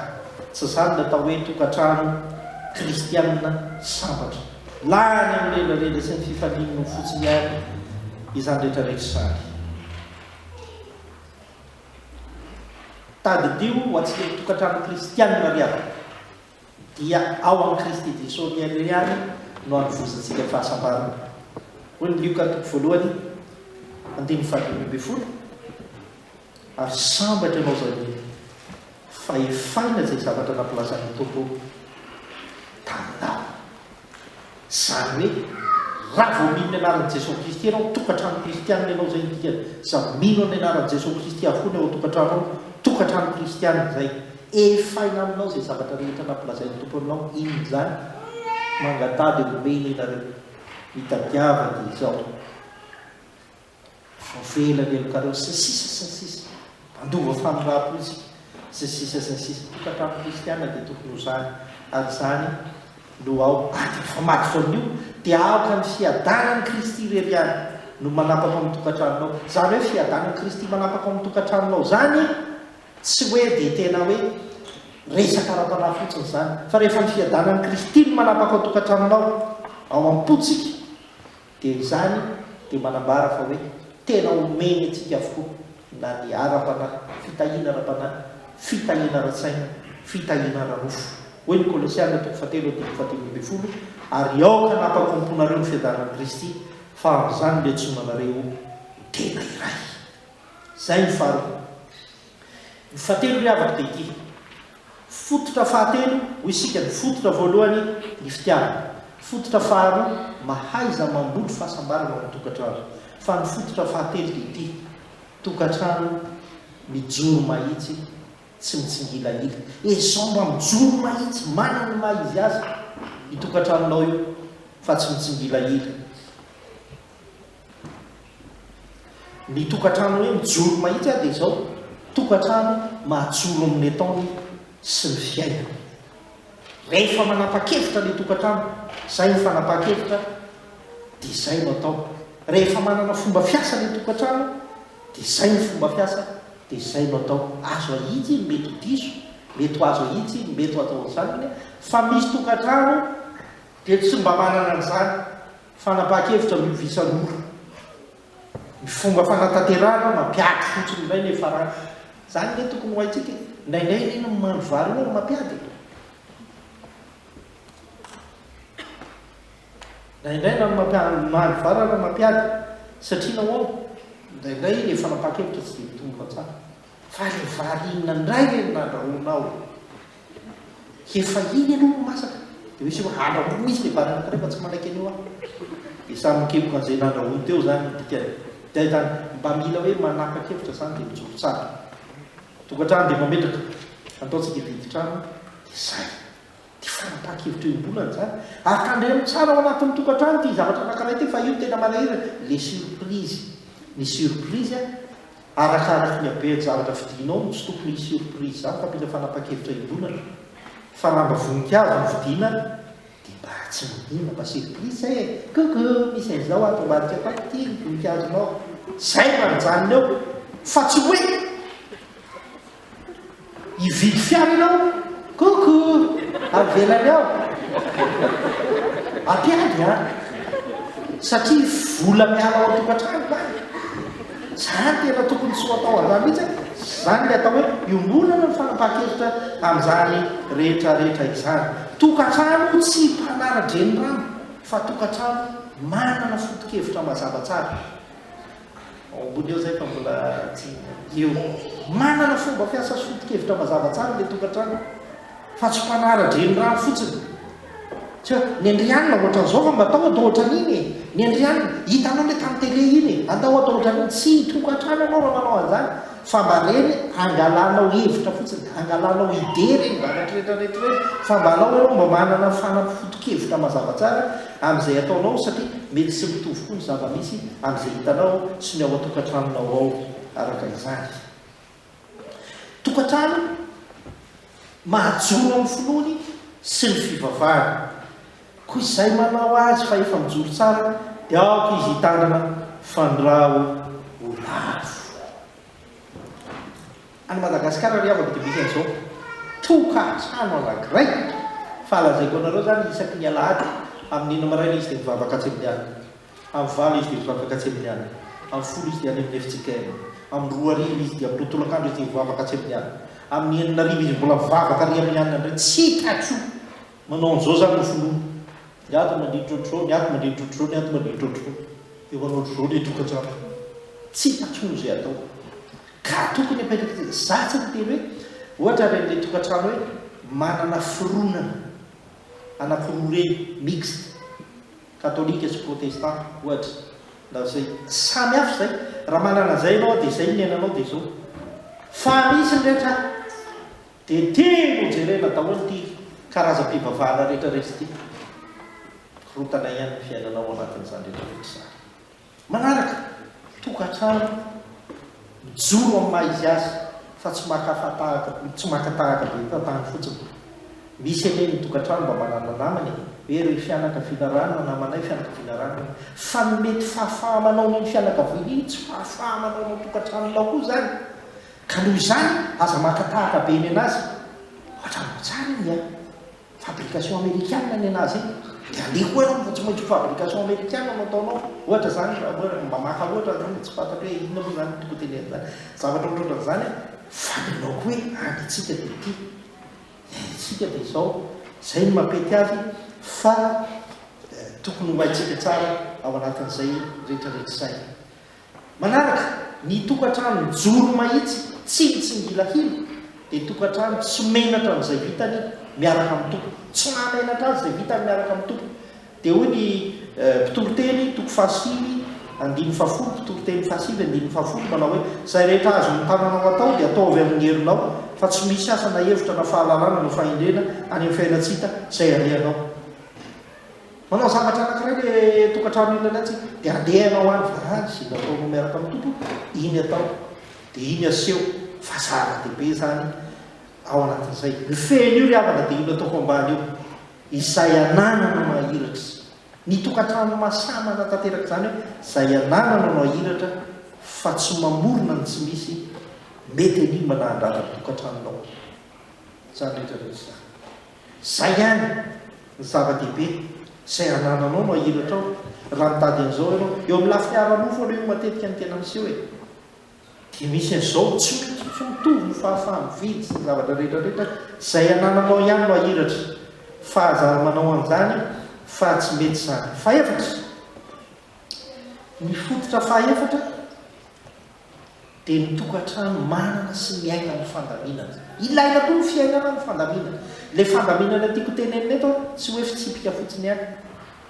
Tsy izany ny atao hoe tokantrano kristiana sambatra. Lany amin'ny rendrarendra sy ny fifalian'ny nofo fotsiny ihany izany rehetra rehetra izany. Tadidio ho antsika ho tokantrano kristianina ry havana, dia ao amin'i Kristy Jesosy irery ihany no anovozantsika ny fahasambarana. Hoy ny Lioka toko voalohany andininy fahadimy ambin'ny folo, Ary sambatra ianao izay hoe, fa efaina izay zavatra nampilazan'ny Tompo taminao. Izany hoe, raha vao mino ny anaran'i Jesoa Kristy ianao, tokantrano kristianina ianao izay no dikany. Izay mino amin'ny anaran'i Jesoa Kristy avokoa ny ao an-tokantrano ao, tokantrano kristianina izay. Efaina aminao izay zavatra rehetra nampilazain'ny Tompo aminao. Inona izany? Mangataha dia homeny ianareo. Mitadiava dia izao. Voafehila ny helokareo sy ny sisa sy ny sisa Handova famindram-potsiny sy ny sisa sy ny sisa Tokantrano kristiana dia tokony ho izany ary izany no ao anatin'ny famadiko amin'io dia aoka ny fiadanan'i Kristy irery ihany no manapaka ao amin'ny tokantranonao izany hoe fiadanan'i Kristy manapaka ao amin'ny tokantranonao izany tsy hoe dia tena hoe resaka ara-panahy fotsiny izany fa rehefa ny fiadanan'i Kristy no manapaka ao tokantranonao ao am-pontsika Dia izany dia manambara fa hoe tena omeny antsika avokoa na ny ara-panahy, fitahiana ara-panahy, fitahiana ara-tsaina, fitahiana ara-nofo. Hoy ny Kolosiana toko fahatelo andininy fahadimy ambin'ny folo, Ary aoka hanapaka ao am-ponareo ny fiadaran'i Kristy, fa amin'izany no iantsoana anareo ho tena iray. Izay ny farany. Ny fahatelo ry havako dia ity, fototra fahatelo hoy isika ny fototra voalohany ny fitiavana, fototra faharoa mahaiza mamboly fahasambarana ao amin'ny tokantrano, fa ny fototra fahatelo dia ity, tokantrano mijoro mahitsy tsy mitsingilahila. Ezao mba mijoro mahitsy manana ny maha izy azy io tokantranonao io fa tsy mitsingilahila. Ny tokantrano hoe mijoro mahitsy aho dia izao, tokantrano mahajoro amin'ny ataony sy ny fiainany. Rehefa manapa-kevitra ny tokantrano, izay ny fanapahan-kevitra, dia izay no atao. Rehefa manana fomba fiasa ny tokantrano, dia izay ny fomba fiasa, dia izay no atao. Azo ahitsy iny, mety ho diso, mety ho azo ahitsy iny, mety ho atao an'izany iny, fa misy tokantrano dia tsy mba manana an'izany. Fanapahan-kevitra amin'io visa mora. Ny fomba fanatanterahana mampiady fotsiny indray ilay farany. Izany ve tokony ho haintsika e? Indraindray anie ny mandry vary io ary mampiady e! Indraindray na ny mampiady mandry vary ary mampiady satria nahoana? Indraindray ilay fanapahan-kevitra tsy dia mitombo atsara. Fa ilay vary inona indray ve no nandrahoanao e? Efa iny ianao no masaka dia misy hoe andrahoy izy ny banane anankiray fa tsy manaiky an'io aho. Dia samy mikemoka an'izay nandrahoiny teo izany ny dikany. Dia izany, mba mila hoe manapa-kevitra izany dia mijoro tsara. Tokantrano dia mametraka, ataontsika hividy trano dia izay. Ity fanapahan-kevitra iombonana izany, ary tandremo tsara ao anatin'ny tokantrano ity zavatra anankiray ity fa io no tena manahirana, le surprise. Ny surprise Arakaraky ny habean'ny zavatra vidinao no tsy tokony hisy surprise hafa fa mila fanapan-kevitra hidonatra fa raha mba voninkazo no vidiana dia mba tsy manina mba surprise e! coucou misy an'izao ato ambadika ato ato ity ny voninkazonao zay no anjanony eo fa tsy hoe Hividy fiara aho. Coucou! Avelany ao. Ampiady an! Satria vola miala ao an-tokantrano lany. Izany tena tokony tsy ho atao an'izany mihitsy an! Izany ilay atao hoe iombonana ny fanapahan-kevitra amin'izany rehetrarehetra izany. Tokantrano tsy mpanara-drenirano fa tokantrano manana foto-kevitra mazava tsara. Ao ambony eo izay fa mbola tsy eo. Manana fomba fiasa sy foto-kevitra mazava tsara ilay tokantrano fa tsy mpanara-drenirano fotsiny. Tsy hoe ny an-dRianona ohatran'izao fa mba tao atao ohatran'iny e! Ny an-dRianona, hitanao ilay tamin'ny tele iny e! Andao atao ohatran'iny. Tsy tokantrano ianao raha manao an'izany. Fa mba reny angalanao hevitra fotsiny, angalanao idée reny varatra rehetra rehetra ireny fa mba alao aloha mba manana fanampi fotokevitra mazava tsara amin'izay ataonao satria mety tsy mitovy koa ny zava-misy amin'izay hitanao sy ny ao an-tokantranonao ao araka izany tokantrano mahajoro amin'ny finoany sy ny fivavahany Koa izay manao azy fa efa mijoro tsara dia aoka izy hitandrina fa ny ra ho lavo. Any Madagasikara ry havako dia misy an'izao tokantrano anankiray fa lazaiko anareo izany isaky ny alahady amin'ny enina maraina izy dia mivavaka atsy amin'ny alina, amin'ny valo izy dia mivavaka atsy amin'ny alina, amin'ny folo izy dia any amin'ny fjkm, amin'ny roa hariva izy dia amin'ny roa tolakandro izy dia mivavaka atsy amin'ny alina, amin'ny enina hariva izy mbola mivavaka ary amin'ny alina indray, tsy hitako Manao an'izao izany ny filoha, ny ato mandihy trotroo, ny ato mandihy trotroo, ny ato mandihy trotroo. Eo an'ohatr'izao ilay tokantrano. Tsy hita intsony izay atao. Ka tokony apetraka etsy. Izaho tsy niteny hoe ohatra ireny ilay tokantrano hoe manana fironana anankiroa ireny, mixte, katolika sy protestanta, ohatra, na izay. Samy hafa izay. Raha manana izay ianao dia izay ny iainanao dia izao. Fa misy ny rehetra Dia telo ho jerena daholo ity karazam-pivavahana rehetra resy ity. Korontana ihany ny fiainanao ao anatin'izany rehetra rehetra izany. Manaraka, tokantrano mijoro amin'ny maha izy azy fa tsy maka fatahaka, tsy maka tahaka be fahatany fotsiny. Misy anie ny tokantrano mba manana namana e! hoe ry fianakaviana ranona namanay, fianakaviana ranona. Fa ny mety fahafaha-manao an'iny fianakaviana iny tsy fahafaha-manao anao tokantranonao koa izany. Ka noho izany aza maka tahaka be ny anazy fa tranobe tsara iny a! Fabrication amerikana ny anazy iny dia aleha koa ianao mba tsy maintsy ho fabrication amerikana no ataonao ohatra zany raha hoe mba maka ohatra zany dia tsy fantatro hoe inona moa zany tokony tenenina zavatra ohatrohatran zany a! Fa ny anao koa hoe any tsika dia ity ny any tsika dia izao zay no mampety azy fa tokony ho haintsika tsara ao anatin'izay retraretra izay. Manaraka, ny tokantrano mijoro mahitsy tsy mitsingilahila dia tokantrano tsy menatra amin'izay vitany miaraka amin'ny tompony. Tsy mahamenatra azy izay vitany miaraka amin'ny tompony. Dia hoy ny Mpitoriteny, toko fahasivy andininy fahafolo, Mpitoriteny fahasivy andininy fahafolo, manao hoe, Izay rehetra azon'ny tananao atao dia ataovy amin'ny herinao, fa tsy misy asa na hevitra na fahalalana na fahendrena any amin'ny fiainan-tsy hita izay alehanao. Manao zavatra anankiray ilay tokantrano iny lalaintsika, dia andeha ianao any fa izay nataonao miaraka amin'ny Tompo, iny atao, dia iny aseho fa zava-dehibe izany ao anatin'izay. Io fehiny io ry havana dia io nataoko ambany io, izay ananana no hahiratra. Ny tokantrano mahasahy manatanteraka izany hoe izay ananana no hahiratra fa tsy mamorona ny tsy misy, mety enigma na handratra ny tokantranonao izany rehetra rehetra izany. Izay ihany no zava-dehibe, izay anananao no ahiratrao, raha mitady an'izao ianao. Eo amin'ny lafiny ara-nofo aloha io matetika no tena miseho e. Dia misy an'izao, tsy mety tsy mitovy ny fahafaha-mividy sy ny zavatra rehetra rehetra, izay anananao ihany no ahiratra. Fa aza ary manao an'izany fa tsy mety izany. Fahefatra, ny fototra fahefatra. dia ny tokantrano manana sy miaina amin'ny fandaminana. Ilaina koa ny fiainana amin'ny fandaminana. Ilay fandaminana tiako tenenina eto an, tsy hoe fitsipika fotsiny ihany,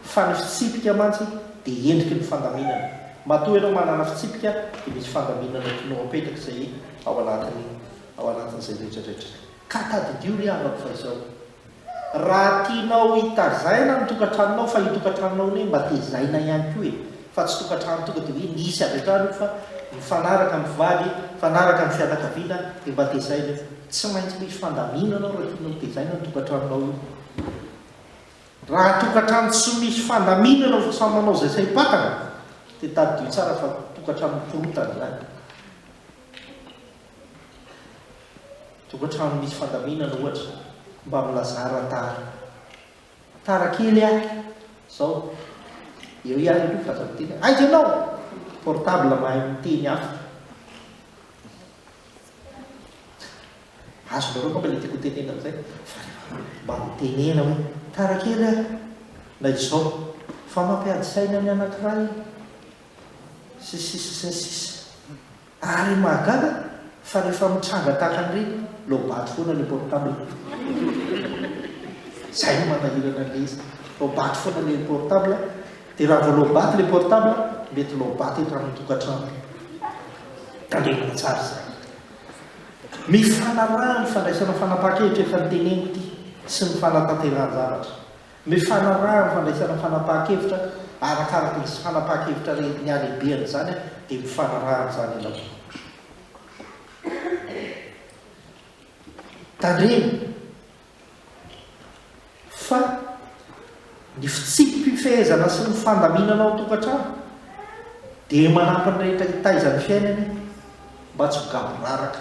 fa ny fitsipika mantsy dia endriky ny fandaminana. Matoa ianao manana fitsipika dia misy fandaminana tianao apetraka izay ao anatin'ny, ao anatin'izay rehetra rehetra izay. Ka tadidio ry havako fa izao. Raha tianao hitazaina ny tokantranonao fa io tokantranonao anie mba tezaina ihany koa e! Fa tsy tokantrano tonga de hoe misy avy hatrany io fa mifanaraka amin'ny mpivady, mifanaraka amin'ny fianakaviana de mba tezaina io. Tsy maintsy misy fandaminana ao raha tianao hotezaina ny tokantranonao io. Raha tokantrano tsy misy fandaminana fa samy manao izay saim-patana de tadidio tsara fa tokantrano mikorontana izany. Tokantrano misy fandaminana ohatra mba milazara tara tara kely ah zao eo ihany aloha fa aza miteny aiza ianao portable mahay miteny afa azonareo angamba ilay tiako hotenenina amin'izay fa rehefa mba mitenena hoe tara kely ah na izao fa mampiady saina ny anankiray sy ny sisa sy ny sisa Ary mahagaga fa rehefa mitranga tahaka an'ireny lobato foana le portable. Zay no manahirana an'ilay izy, lobato foana le portable, de raha vao lobato le portable mety lobato eto amin'ny tokantrano. Tandremana tsara izany. Mifanaraha ny fandraisana fanapahan-kevitra efa noteneniko ity sy ny fanatanterahan-javatra. Ny fanarahana ny fandraisana fanapahan-kevitra arakaraka ny fanapahan-kevitra re ny halehibehan' izany dia mifanaraha amin' izany ianao. Tandremo fa ny fitsipi-pifehezana sy ny fandaminana ao an-tokantrano dia manampy ny rehetra hitaiza ny fiainany mba tsy ho gaboraraka.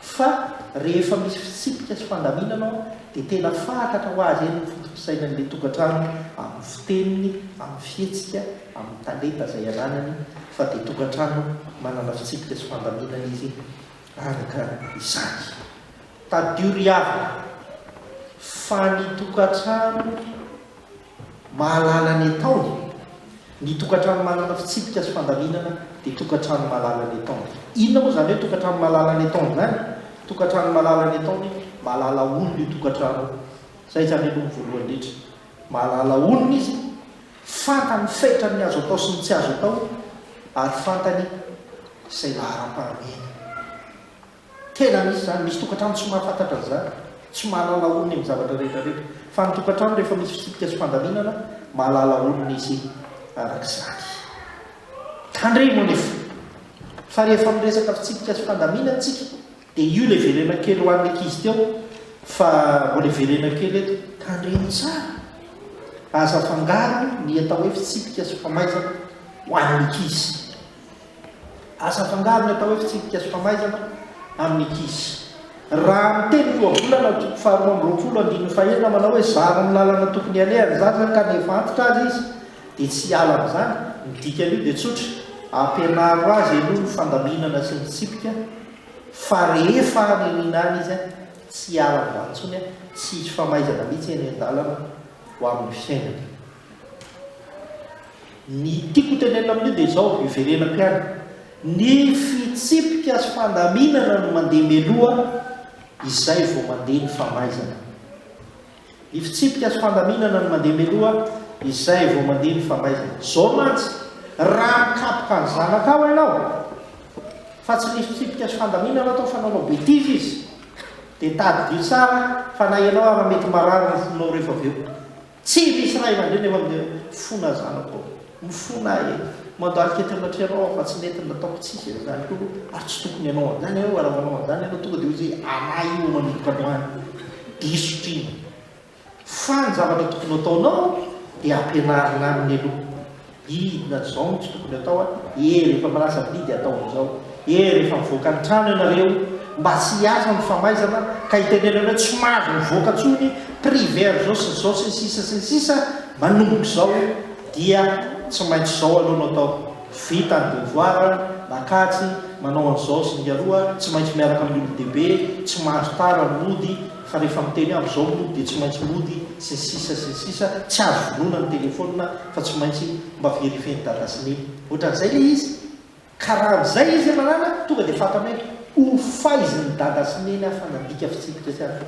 Fa rehefa misy fitsipika sy fandaminana ao dia tena fatratra ho azy eny ny foto-pisainan'ilay tokantrano amin'ny fiteniny, amin'ny fihetsika, amin'ny talenta izay ananany fa dia tokantrano manana fitsipika sy fandaminana izy araka izany. Tadidio ry havana fa ny tokantrano. Mahalala ny ataony, Ny tokantrano manana fitsipika sy fandaminana dia tokantrano mahalala ny ataony. Inona moa izany hoe tokantrano mahalala ny ataony izany? Tokantrano mahalala ny ataony, mahalala olona io tokantrano io. Izay izany aloha no voalohany indrindra. Mahalala olona izy, fantany fetrany ny azo atao sy ny tsy azo atao ary fantany izay laharam-pahamehany. Tena misy izany, misy tokantrano tsy mahafantatra an'izany, tsy mahalala olony amin'ny zavatra rehetra rehetra, fa ny tokantrano rehefa misy fitsipika sy fandaminana, mahalala olony izy araka izany. Tandremo anefa, fa rehefa miresaka fitsipika sy fandaminana isika, dia io ilay verena kely ho an'ny ankizy teo, fa mbola hiverena kely eto, tandremo tsara, aza afangaro ny atao hoe fitsipika sy famaizana ho an'ny ankizy. Aza afangaro ny atao hoe fitsipika sy famaizana amin'ny ankizy. Raha amin'ny teny fohabolana ao toko faharoa amby roapolo andininy fahenina manao hoe zaro ny lalana tokony haleha ny zaza ka nefa antitra aza izy dia tsy hiala amin'izany, ny dikan'io dia tsotra, ampianaro azy aloha ny fandaminana sy ny fitsipika fa rehefa any an'iny any izy tsy hiala amin'izany intsony, tsy hisy famaizana mihitsy eny an-dalana ho amin'ny fiainany. Ny tiako tenenina amin'io dia izao, hiverenako ihany, ny fitsipika sy fandaminana no mandeha mialoha, izay vao mandeha ny famaizana. Ny fitsipika sy fandaminana no mandeha mialoha, izay vao mandeha ny famaizana. Izao mantsy, raha mikapoka ny zanakao ianao, fa tsy ny fitsipika sy fandaminana atao fanaonao betizy izy, dia tadidio tsara fa na ianao ara mety marary ny fonao rehefa avy eo. Tsy misy ray aman-dreny eo amin'ireo fona zanako ao. Mifona ahy e! Mandalika eto anatrehanao aho fa tsy nety ny nataoko, tsy hisy an'izany akory oh! Ary tsy tokony hanao an'izany ianao, raha manao an'izany ianao tonga dia hoy izay anà io manomboka androany, diso trino. Fa ny zavatra tokony hataonao dia ampianarina aminy aloha. Inona izao no tsy tokony atao a! Ee rehefa milaza bidy ataovy izao, ee rehefa mivoaka ny trano ianareo mba tsy hiasa ny famaizana ka hitenenana hoe tsy mahazo mivoaka intsony, prix vert izao sy izao sy ny sisa sy ny sisa, manomboka izao dia tsy maintsy izao aloha no atao, vita ny devoir, Makajy, manao an'izao sy ny aroa, tsy maintsy miaraka amin'ny olon-dehibe, tsy mahazo tara ny mody fa rehefa miteny avy izao mody dia tsy maintsy mody sy ny sisa sy ny sisa, tsy azo vonoina ny telefaonina, fa tsy maintsy mba verifier ny dada sy ny. Ohatran'izay le izy ka raha amzay izy manana tonga de fantany hoe ho faizy ny dada sy neny aho fa nandika fitsipika sy aza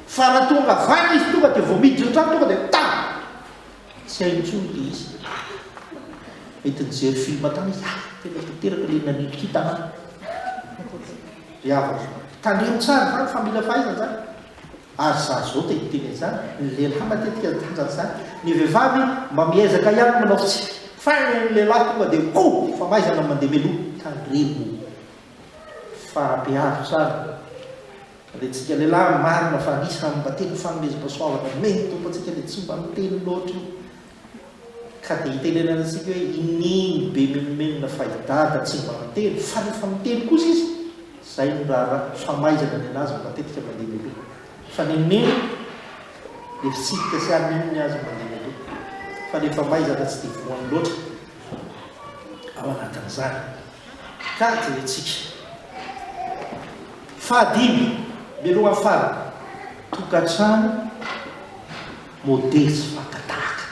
fa raha tonga vaky izy tonga de vao miditra antrano tonga de ta tsy hainy intsony le izy mety nijery film tany izy ah tena tanteraka le nanindrika ity tanàna ry havako tanero tsara zany fa mila fahaizana zany Ary za zao te hiteny an'izany, ny lehilahy matetika no tanjany izany, ny vehivavy mba miezaka ihany manao fitsipika, fa ny an'ny lehilahy tonga dia oh! famaizana no mandeha mialoha, tandremo fa be avotra ary le tsika lehilahy, marina fa anisany mba tena fanomezam-pasoavana nomen'ny Tompo antsika le tsy mba miteny loatra io, Ka dia itenenantsika hoe iniany be menomenona fa i Dada tsy mba miteny fa rehefa miteny kosa izy izay no raharaha famaizana ny an'azy matetika mandeha mialoha fa ny mino eritsidika sy ahy mino ny azy no mandeha mialoha fa ny famaizana tsy dia voany loatra ao anatin'izany ka jerentsika fahadimy mialohan'ny farany tokantrano Modely sy faka tahaka.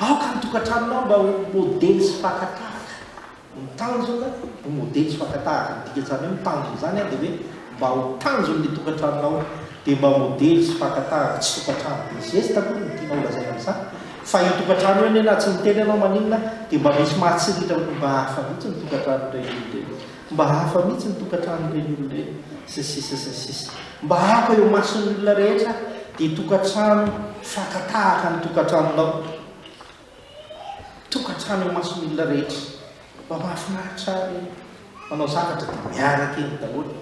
Aoka ny tokantranonao mba ho modely sy faka tahaka. Ny tanjona, ho modely sy faka tahaka. Ny dikan'izany hoe ny tanjona izany dia hoe mba ho tanjon'ny tokantranonao dia mba ho modely sy faka tahaka. Tsy tokantrano be zesta akory no tianao holazaina amin'izany fa io tokantrano io anie na tsy miteny ianao maninona dia mba misy mahatsiriritra mba hafa mihitsy ny tokantranon'ireny olona ireny. Mba hafa mihitsy ny tokantranon'ireny olona ireny, sy ny sisa sy ny sisa. Mba hafa eo mason'ny olona rehetra dia tokantrano faka tahaka ny tokantranonao. Tokantrano eo mason'ny olona rehetra. Mba mahafinaritra ahy ireny. Manao zavatra dia miaraka eny daholo.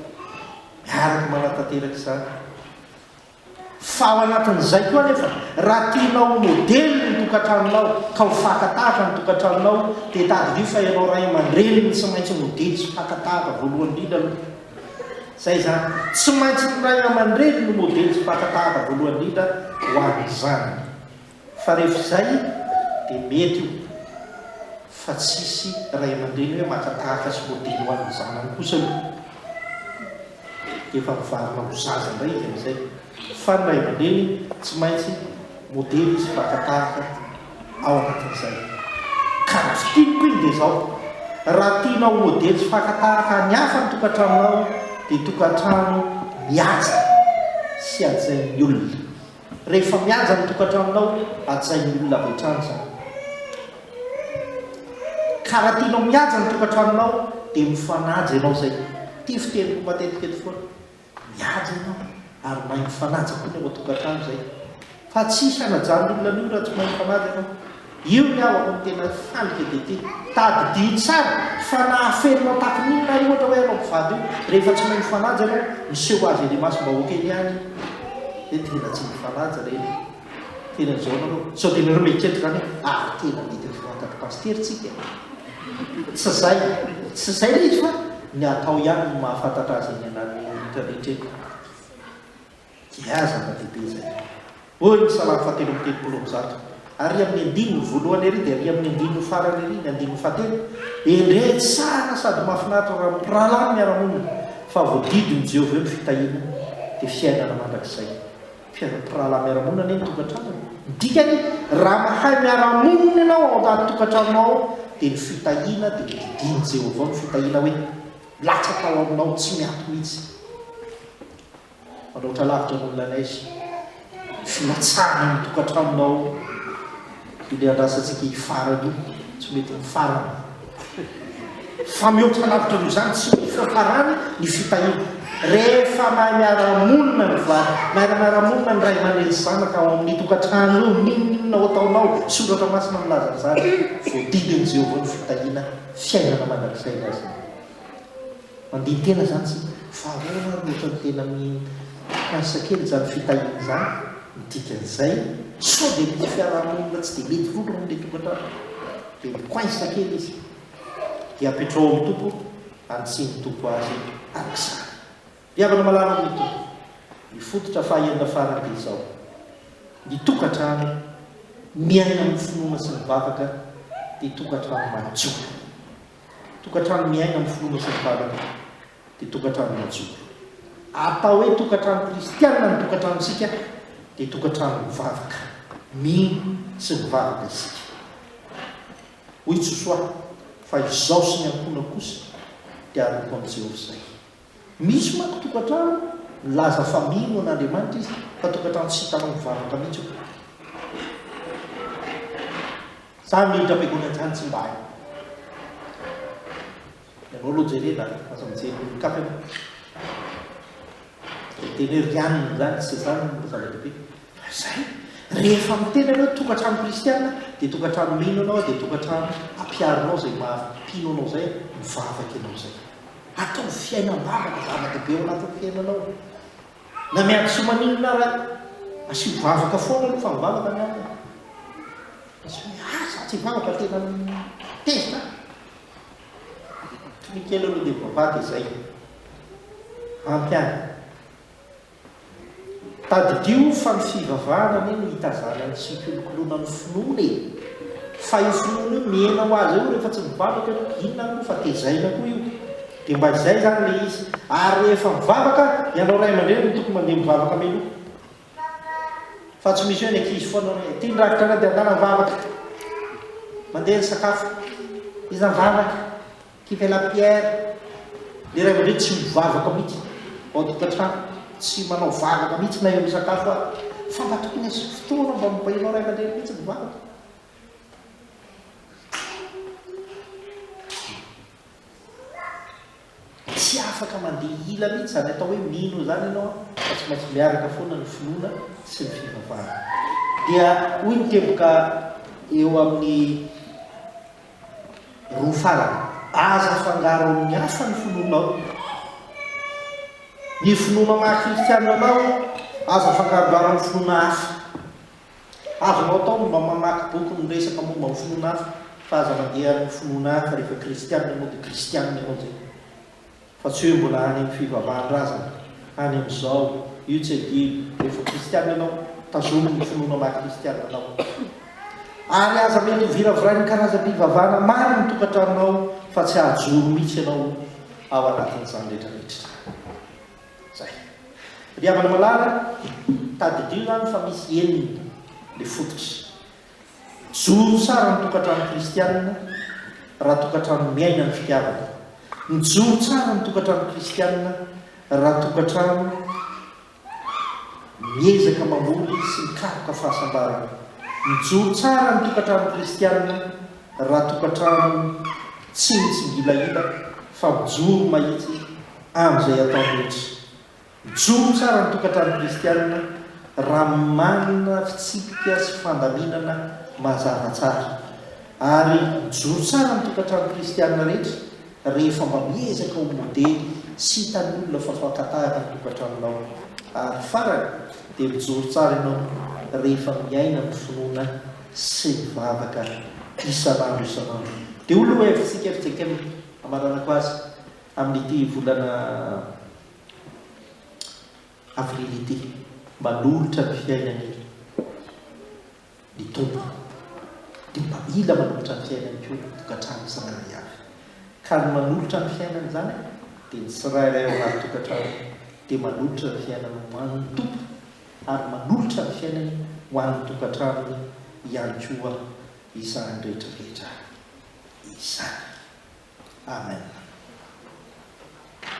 Miaraka manatanteraka izany. Fa ao anatin'izay koa anefa, raha tianao ho modely ny tokantranonao ka ho fakan-tahaka ny tokantranonao, dia tadidio fa ianao ray aman-dreny no tsy maintsy modely sy mpakan-tahaka voalohany indrindra aloha. Izay izany. Tsy maintsy ny ray aman-dreny no modely sy mpakan-tahaka voalohany indrindra ho an'ny zanany. Fa rehefa izay dia mety io fa tsisy ray aman-dreny hoe maka tahaka sy modely ho an'ny zanany kosa io dia efa mivarina ho zaza indray izy amin'izay fa ny ray aman-dreny tsy maintsy modely izy mpaka tahaka ao anatin'izay ka raha fiteny ko iny dia izao raha tianao modely tsy faka tahaka any hafa ny tokantranonao dia tokantrano mihaja sy hajain'ny olona Rehefa mihaja ny tokantranonao, hajain'ny olona avy hatrany izany. Ka raha tianao mihaja ny tokantranonao, dia mifanaja ianao izay. Ity fiteniko matetika eto foana. Mihaja ianao, ary mahay mifanaja koa ny ao an-tokantrano izay. Fa tsy hisy hanajan'ny olona an'io raha tsy mahay mifanaja ianao. Io ny havako no tena handrika dia ity. Tadidio tsara fa nahafelonao tahakan'inona ahy ohatra hoe ianao mpivady io, rehefa tsy mahay mifanaja ianao, miseho ho azy ery imasom-bahoaka ery any hoe tena tsy mifanaja re ny tena izao nareo, sao dia nareo mieritreritra izany hoe ary tena mety ho voantadry pasitera isika e? Tsy izay, tsy izay ilay izy fa ny atao ihany no mahafantatra azy eny anan'ny olon-drehetra eny. Dia zava-dehibe izay. Hoy ny Salamo fahatelo amby telopolo amby zato, Ary amin'ny andininy voalohany ery dia ary amin'ny andininy farany ery, ny andininy fahatelo, Endrey tsara sady mahafinaritra raha mpirahalahy ny miara-monina, fa voadidin'i Jehovah eo ny fitahiana, dia fiainana mandrakizay. Fiara mpirahalahy miara-monina anie ny tokantranony. Ny dikany, raha mahay miara-monina ianao ao an-tokantranonao ao, dia ny fitahiana dia didian'i Jehovah ao ny fitahiana hoe milatsaka ao aminao tsy miato mihitsy. Manoatra lavitra noho ilay neige ny filatsahana ny tokantranonao io le andrasantsika hifarana io tsy mety mifarana fa mihoatra lavitra noho izany tsy mety fiafarany ny fitahiana rehefa mahay miara-monina ny vady mahay miara-monina ny ray aman-dreny sy zanaka ao amin'ny tokantrano io n'inon'inona ho ataonao soratra masina milaza an'izany voadidin'i Jehovah ny fitahiana fiainana mandrakizay ny azy Mandihy tena zany tsika fa ahoana ary ohatrany tena mikasa kely zany fitahiana zany ny dikan'izay sao dia misy fiarahamonina tsy dia mety loatra moa ilay tokantrano dia mikoainsa kely izy dia apetrao amin'ny Tompo any tsy ny Tompo azy araka izany ry havana malala amin'ny Tompo ny fototra faha enina farany dia izao ny tokantrano miaina amin'ny finoana sy mivavaka dia tokantrano madio Tokantrano miaina amin'ny finoana sy ny fahalalana dia tokantrano majoro. Atao hoe tokantrano kristiana ny tokantranontsika dia tokantrano mivavaka. Mino sy mivavaka isika. Hoy Josoa, Fa izaho sy ny ankohonako kosa dia hanompo an'i Jehovah izay. Misy manko tokantrano milaza fa mino an Andriamanitra izy fa tokantrano tsy hitanao mivavaka mihitsy io. Zany miditra am-piangonana zany tsy mba hay. Ianao aloha jerena a, aza mijery ny olon-kafa ianao. Ny teny hoe rianona zany tsy zany no zava-dehibe. Fa izay, rehefa miteny ianao hoe tokantrano kristiana dia tokantrano mino anao dia tokantrano ampiharinao izay maha mpino anao izay, mivavaka ianao izay. Ataovy fiainam-bavaka zava-dehibe ao anatin'ny fiainanao. Na miadisoa maninona ary aza, asio vavaka foana aloha fa mivavaka ny alina. Misy hoe, ah, izaho tsy hivavaka tena tezitra aho. Toy ny kely aloha dia mivavaha dia izay. Ampy ahy. Tadidio fa ny fivavahana anie no itazanany tsy hikolokoloana ny finoana e! Fa io finoana io mihena ho azy eo rehefa tsy mivavaka ianao, inona ary moa fa tezaina koa io? Dia mba izay izany ilay izy. Ary rehefa mivavaka, ianao ray aman-dreny no tokony mandeha mivavaka mialoha. Fa tsy misy hoe ny ankizy foana hoe, ity ny rafitra anay dia andala mivavaka, mandeha ny sakafo, iza mivavaka? Kipe la pierre, le ray aman-dreny tsy mivavaka mihitsy ao an-tokantrano, tsy manao vavaka mihitsy na eo misakafo ary, fa mba tokony asio fotoana mba mibainao ray aman-dreny mihitsy ny vavaka. Tsy afaka mandeha hila mihitsy izany atao hoe mino izany ianao fa tsy maintsy miaraka foana ny finoana sy ny fivavahana. Dia hoy ny teboka eo amin'ny roa farany. Aza afangaro amin'ny hafa ny finoanao. Ny finoana maha kristianina anao aza afangarongaro amin'ny finoana hafa. Azonao atao ny mba mamaky boky miresaka momba ny finoana hafa fa aza mandeha amin'ny finoana hafa rehefa kristianina ianao dia kristianina ianao izay. Fa tsy hoe mbola any amin'ny fivavahan-drazana, any amin'izao, io tsy adino, rehefa kristiana ianao, tazomy ny finoanao maha kristiana anao. Ary aza mety ho viravirain'ny karazam-pivavahana maro ny tokantranonao fa tsy hahajoro mihitsy ianao ao anatin'izany rehetra rehetra izany. Izay. Ry havana malala, tadidio izany fa misy enina ilay fototry Mijoro tsara ny tokantrano kristianina raha tokantrano miaina ny fitiavana. Mijoro tsara ny tokantrano kristianina raha tokantrano miezaka mamboly sy mikaroka fahasambarana. Mijoro tsara ny tokantrano kristianina raha tokantrano tsy mitsingilahila fa mijoro mahitsy amin'izay atao rehetra. Mijoro tsara ny tokantrano kristianina raha manana fitsipika sy fandaminana mazava tsara. Ary mijoro tsara ny tokantrano kristianina rehetra rehefa mba miezaka ho modely sy hitan'ny olona fa fakan-tahaka ny tokantranonao. Ary farany, dia mijoro tsara ianao rehefa miaina amin'ny finoana sy mivavaka isan'andro isan'andro. Dia ho lohahevitsika fijenkena, hamaranako azy, amin'ity volana Avril ity. Manolotra ny fiainany ny Tompo, dia mba mila manolotra ny fiainany koa ny tokantrano tsirairay avy. Ka ny manolotra ny fiainany izany dia ny tsirairay ao anaty tokantrano dia manolotra ny fiainany ho an' ny Tompo ary manolotra ny fiainany ho an' ny tokantranony ihany koa izany rehetra rehetra izany. Amen.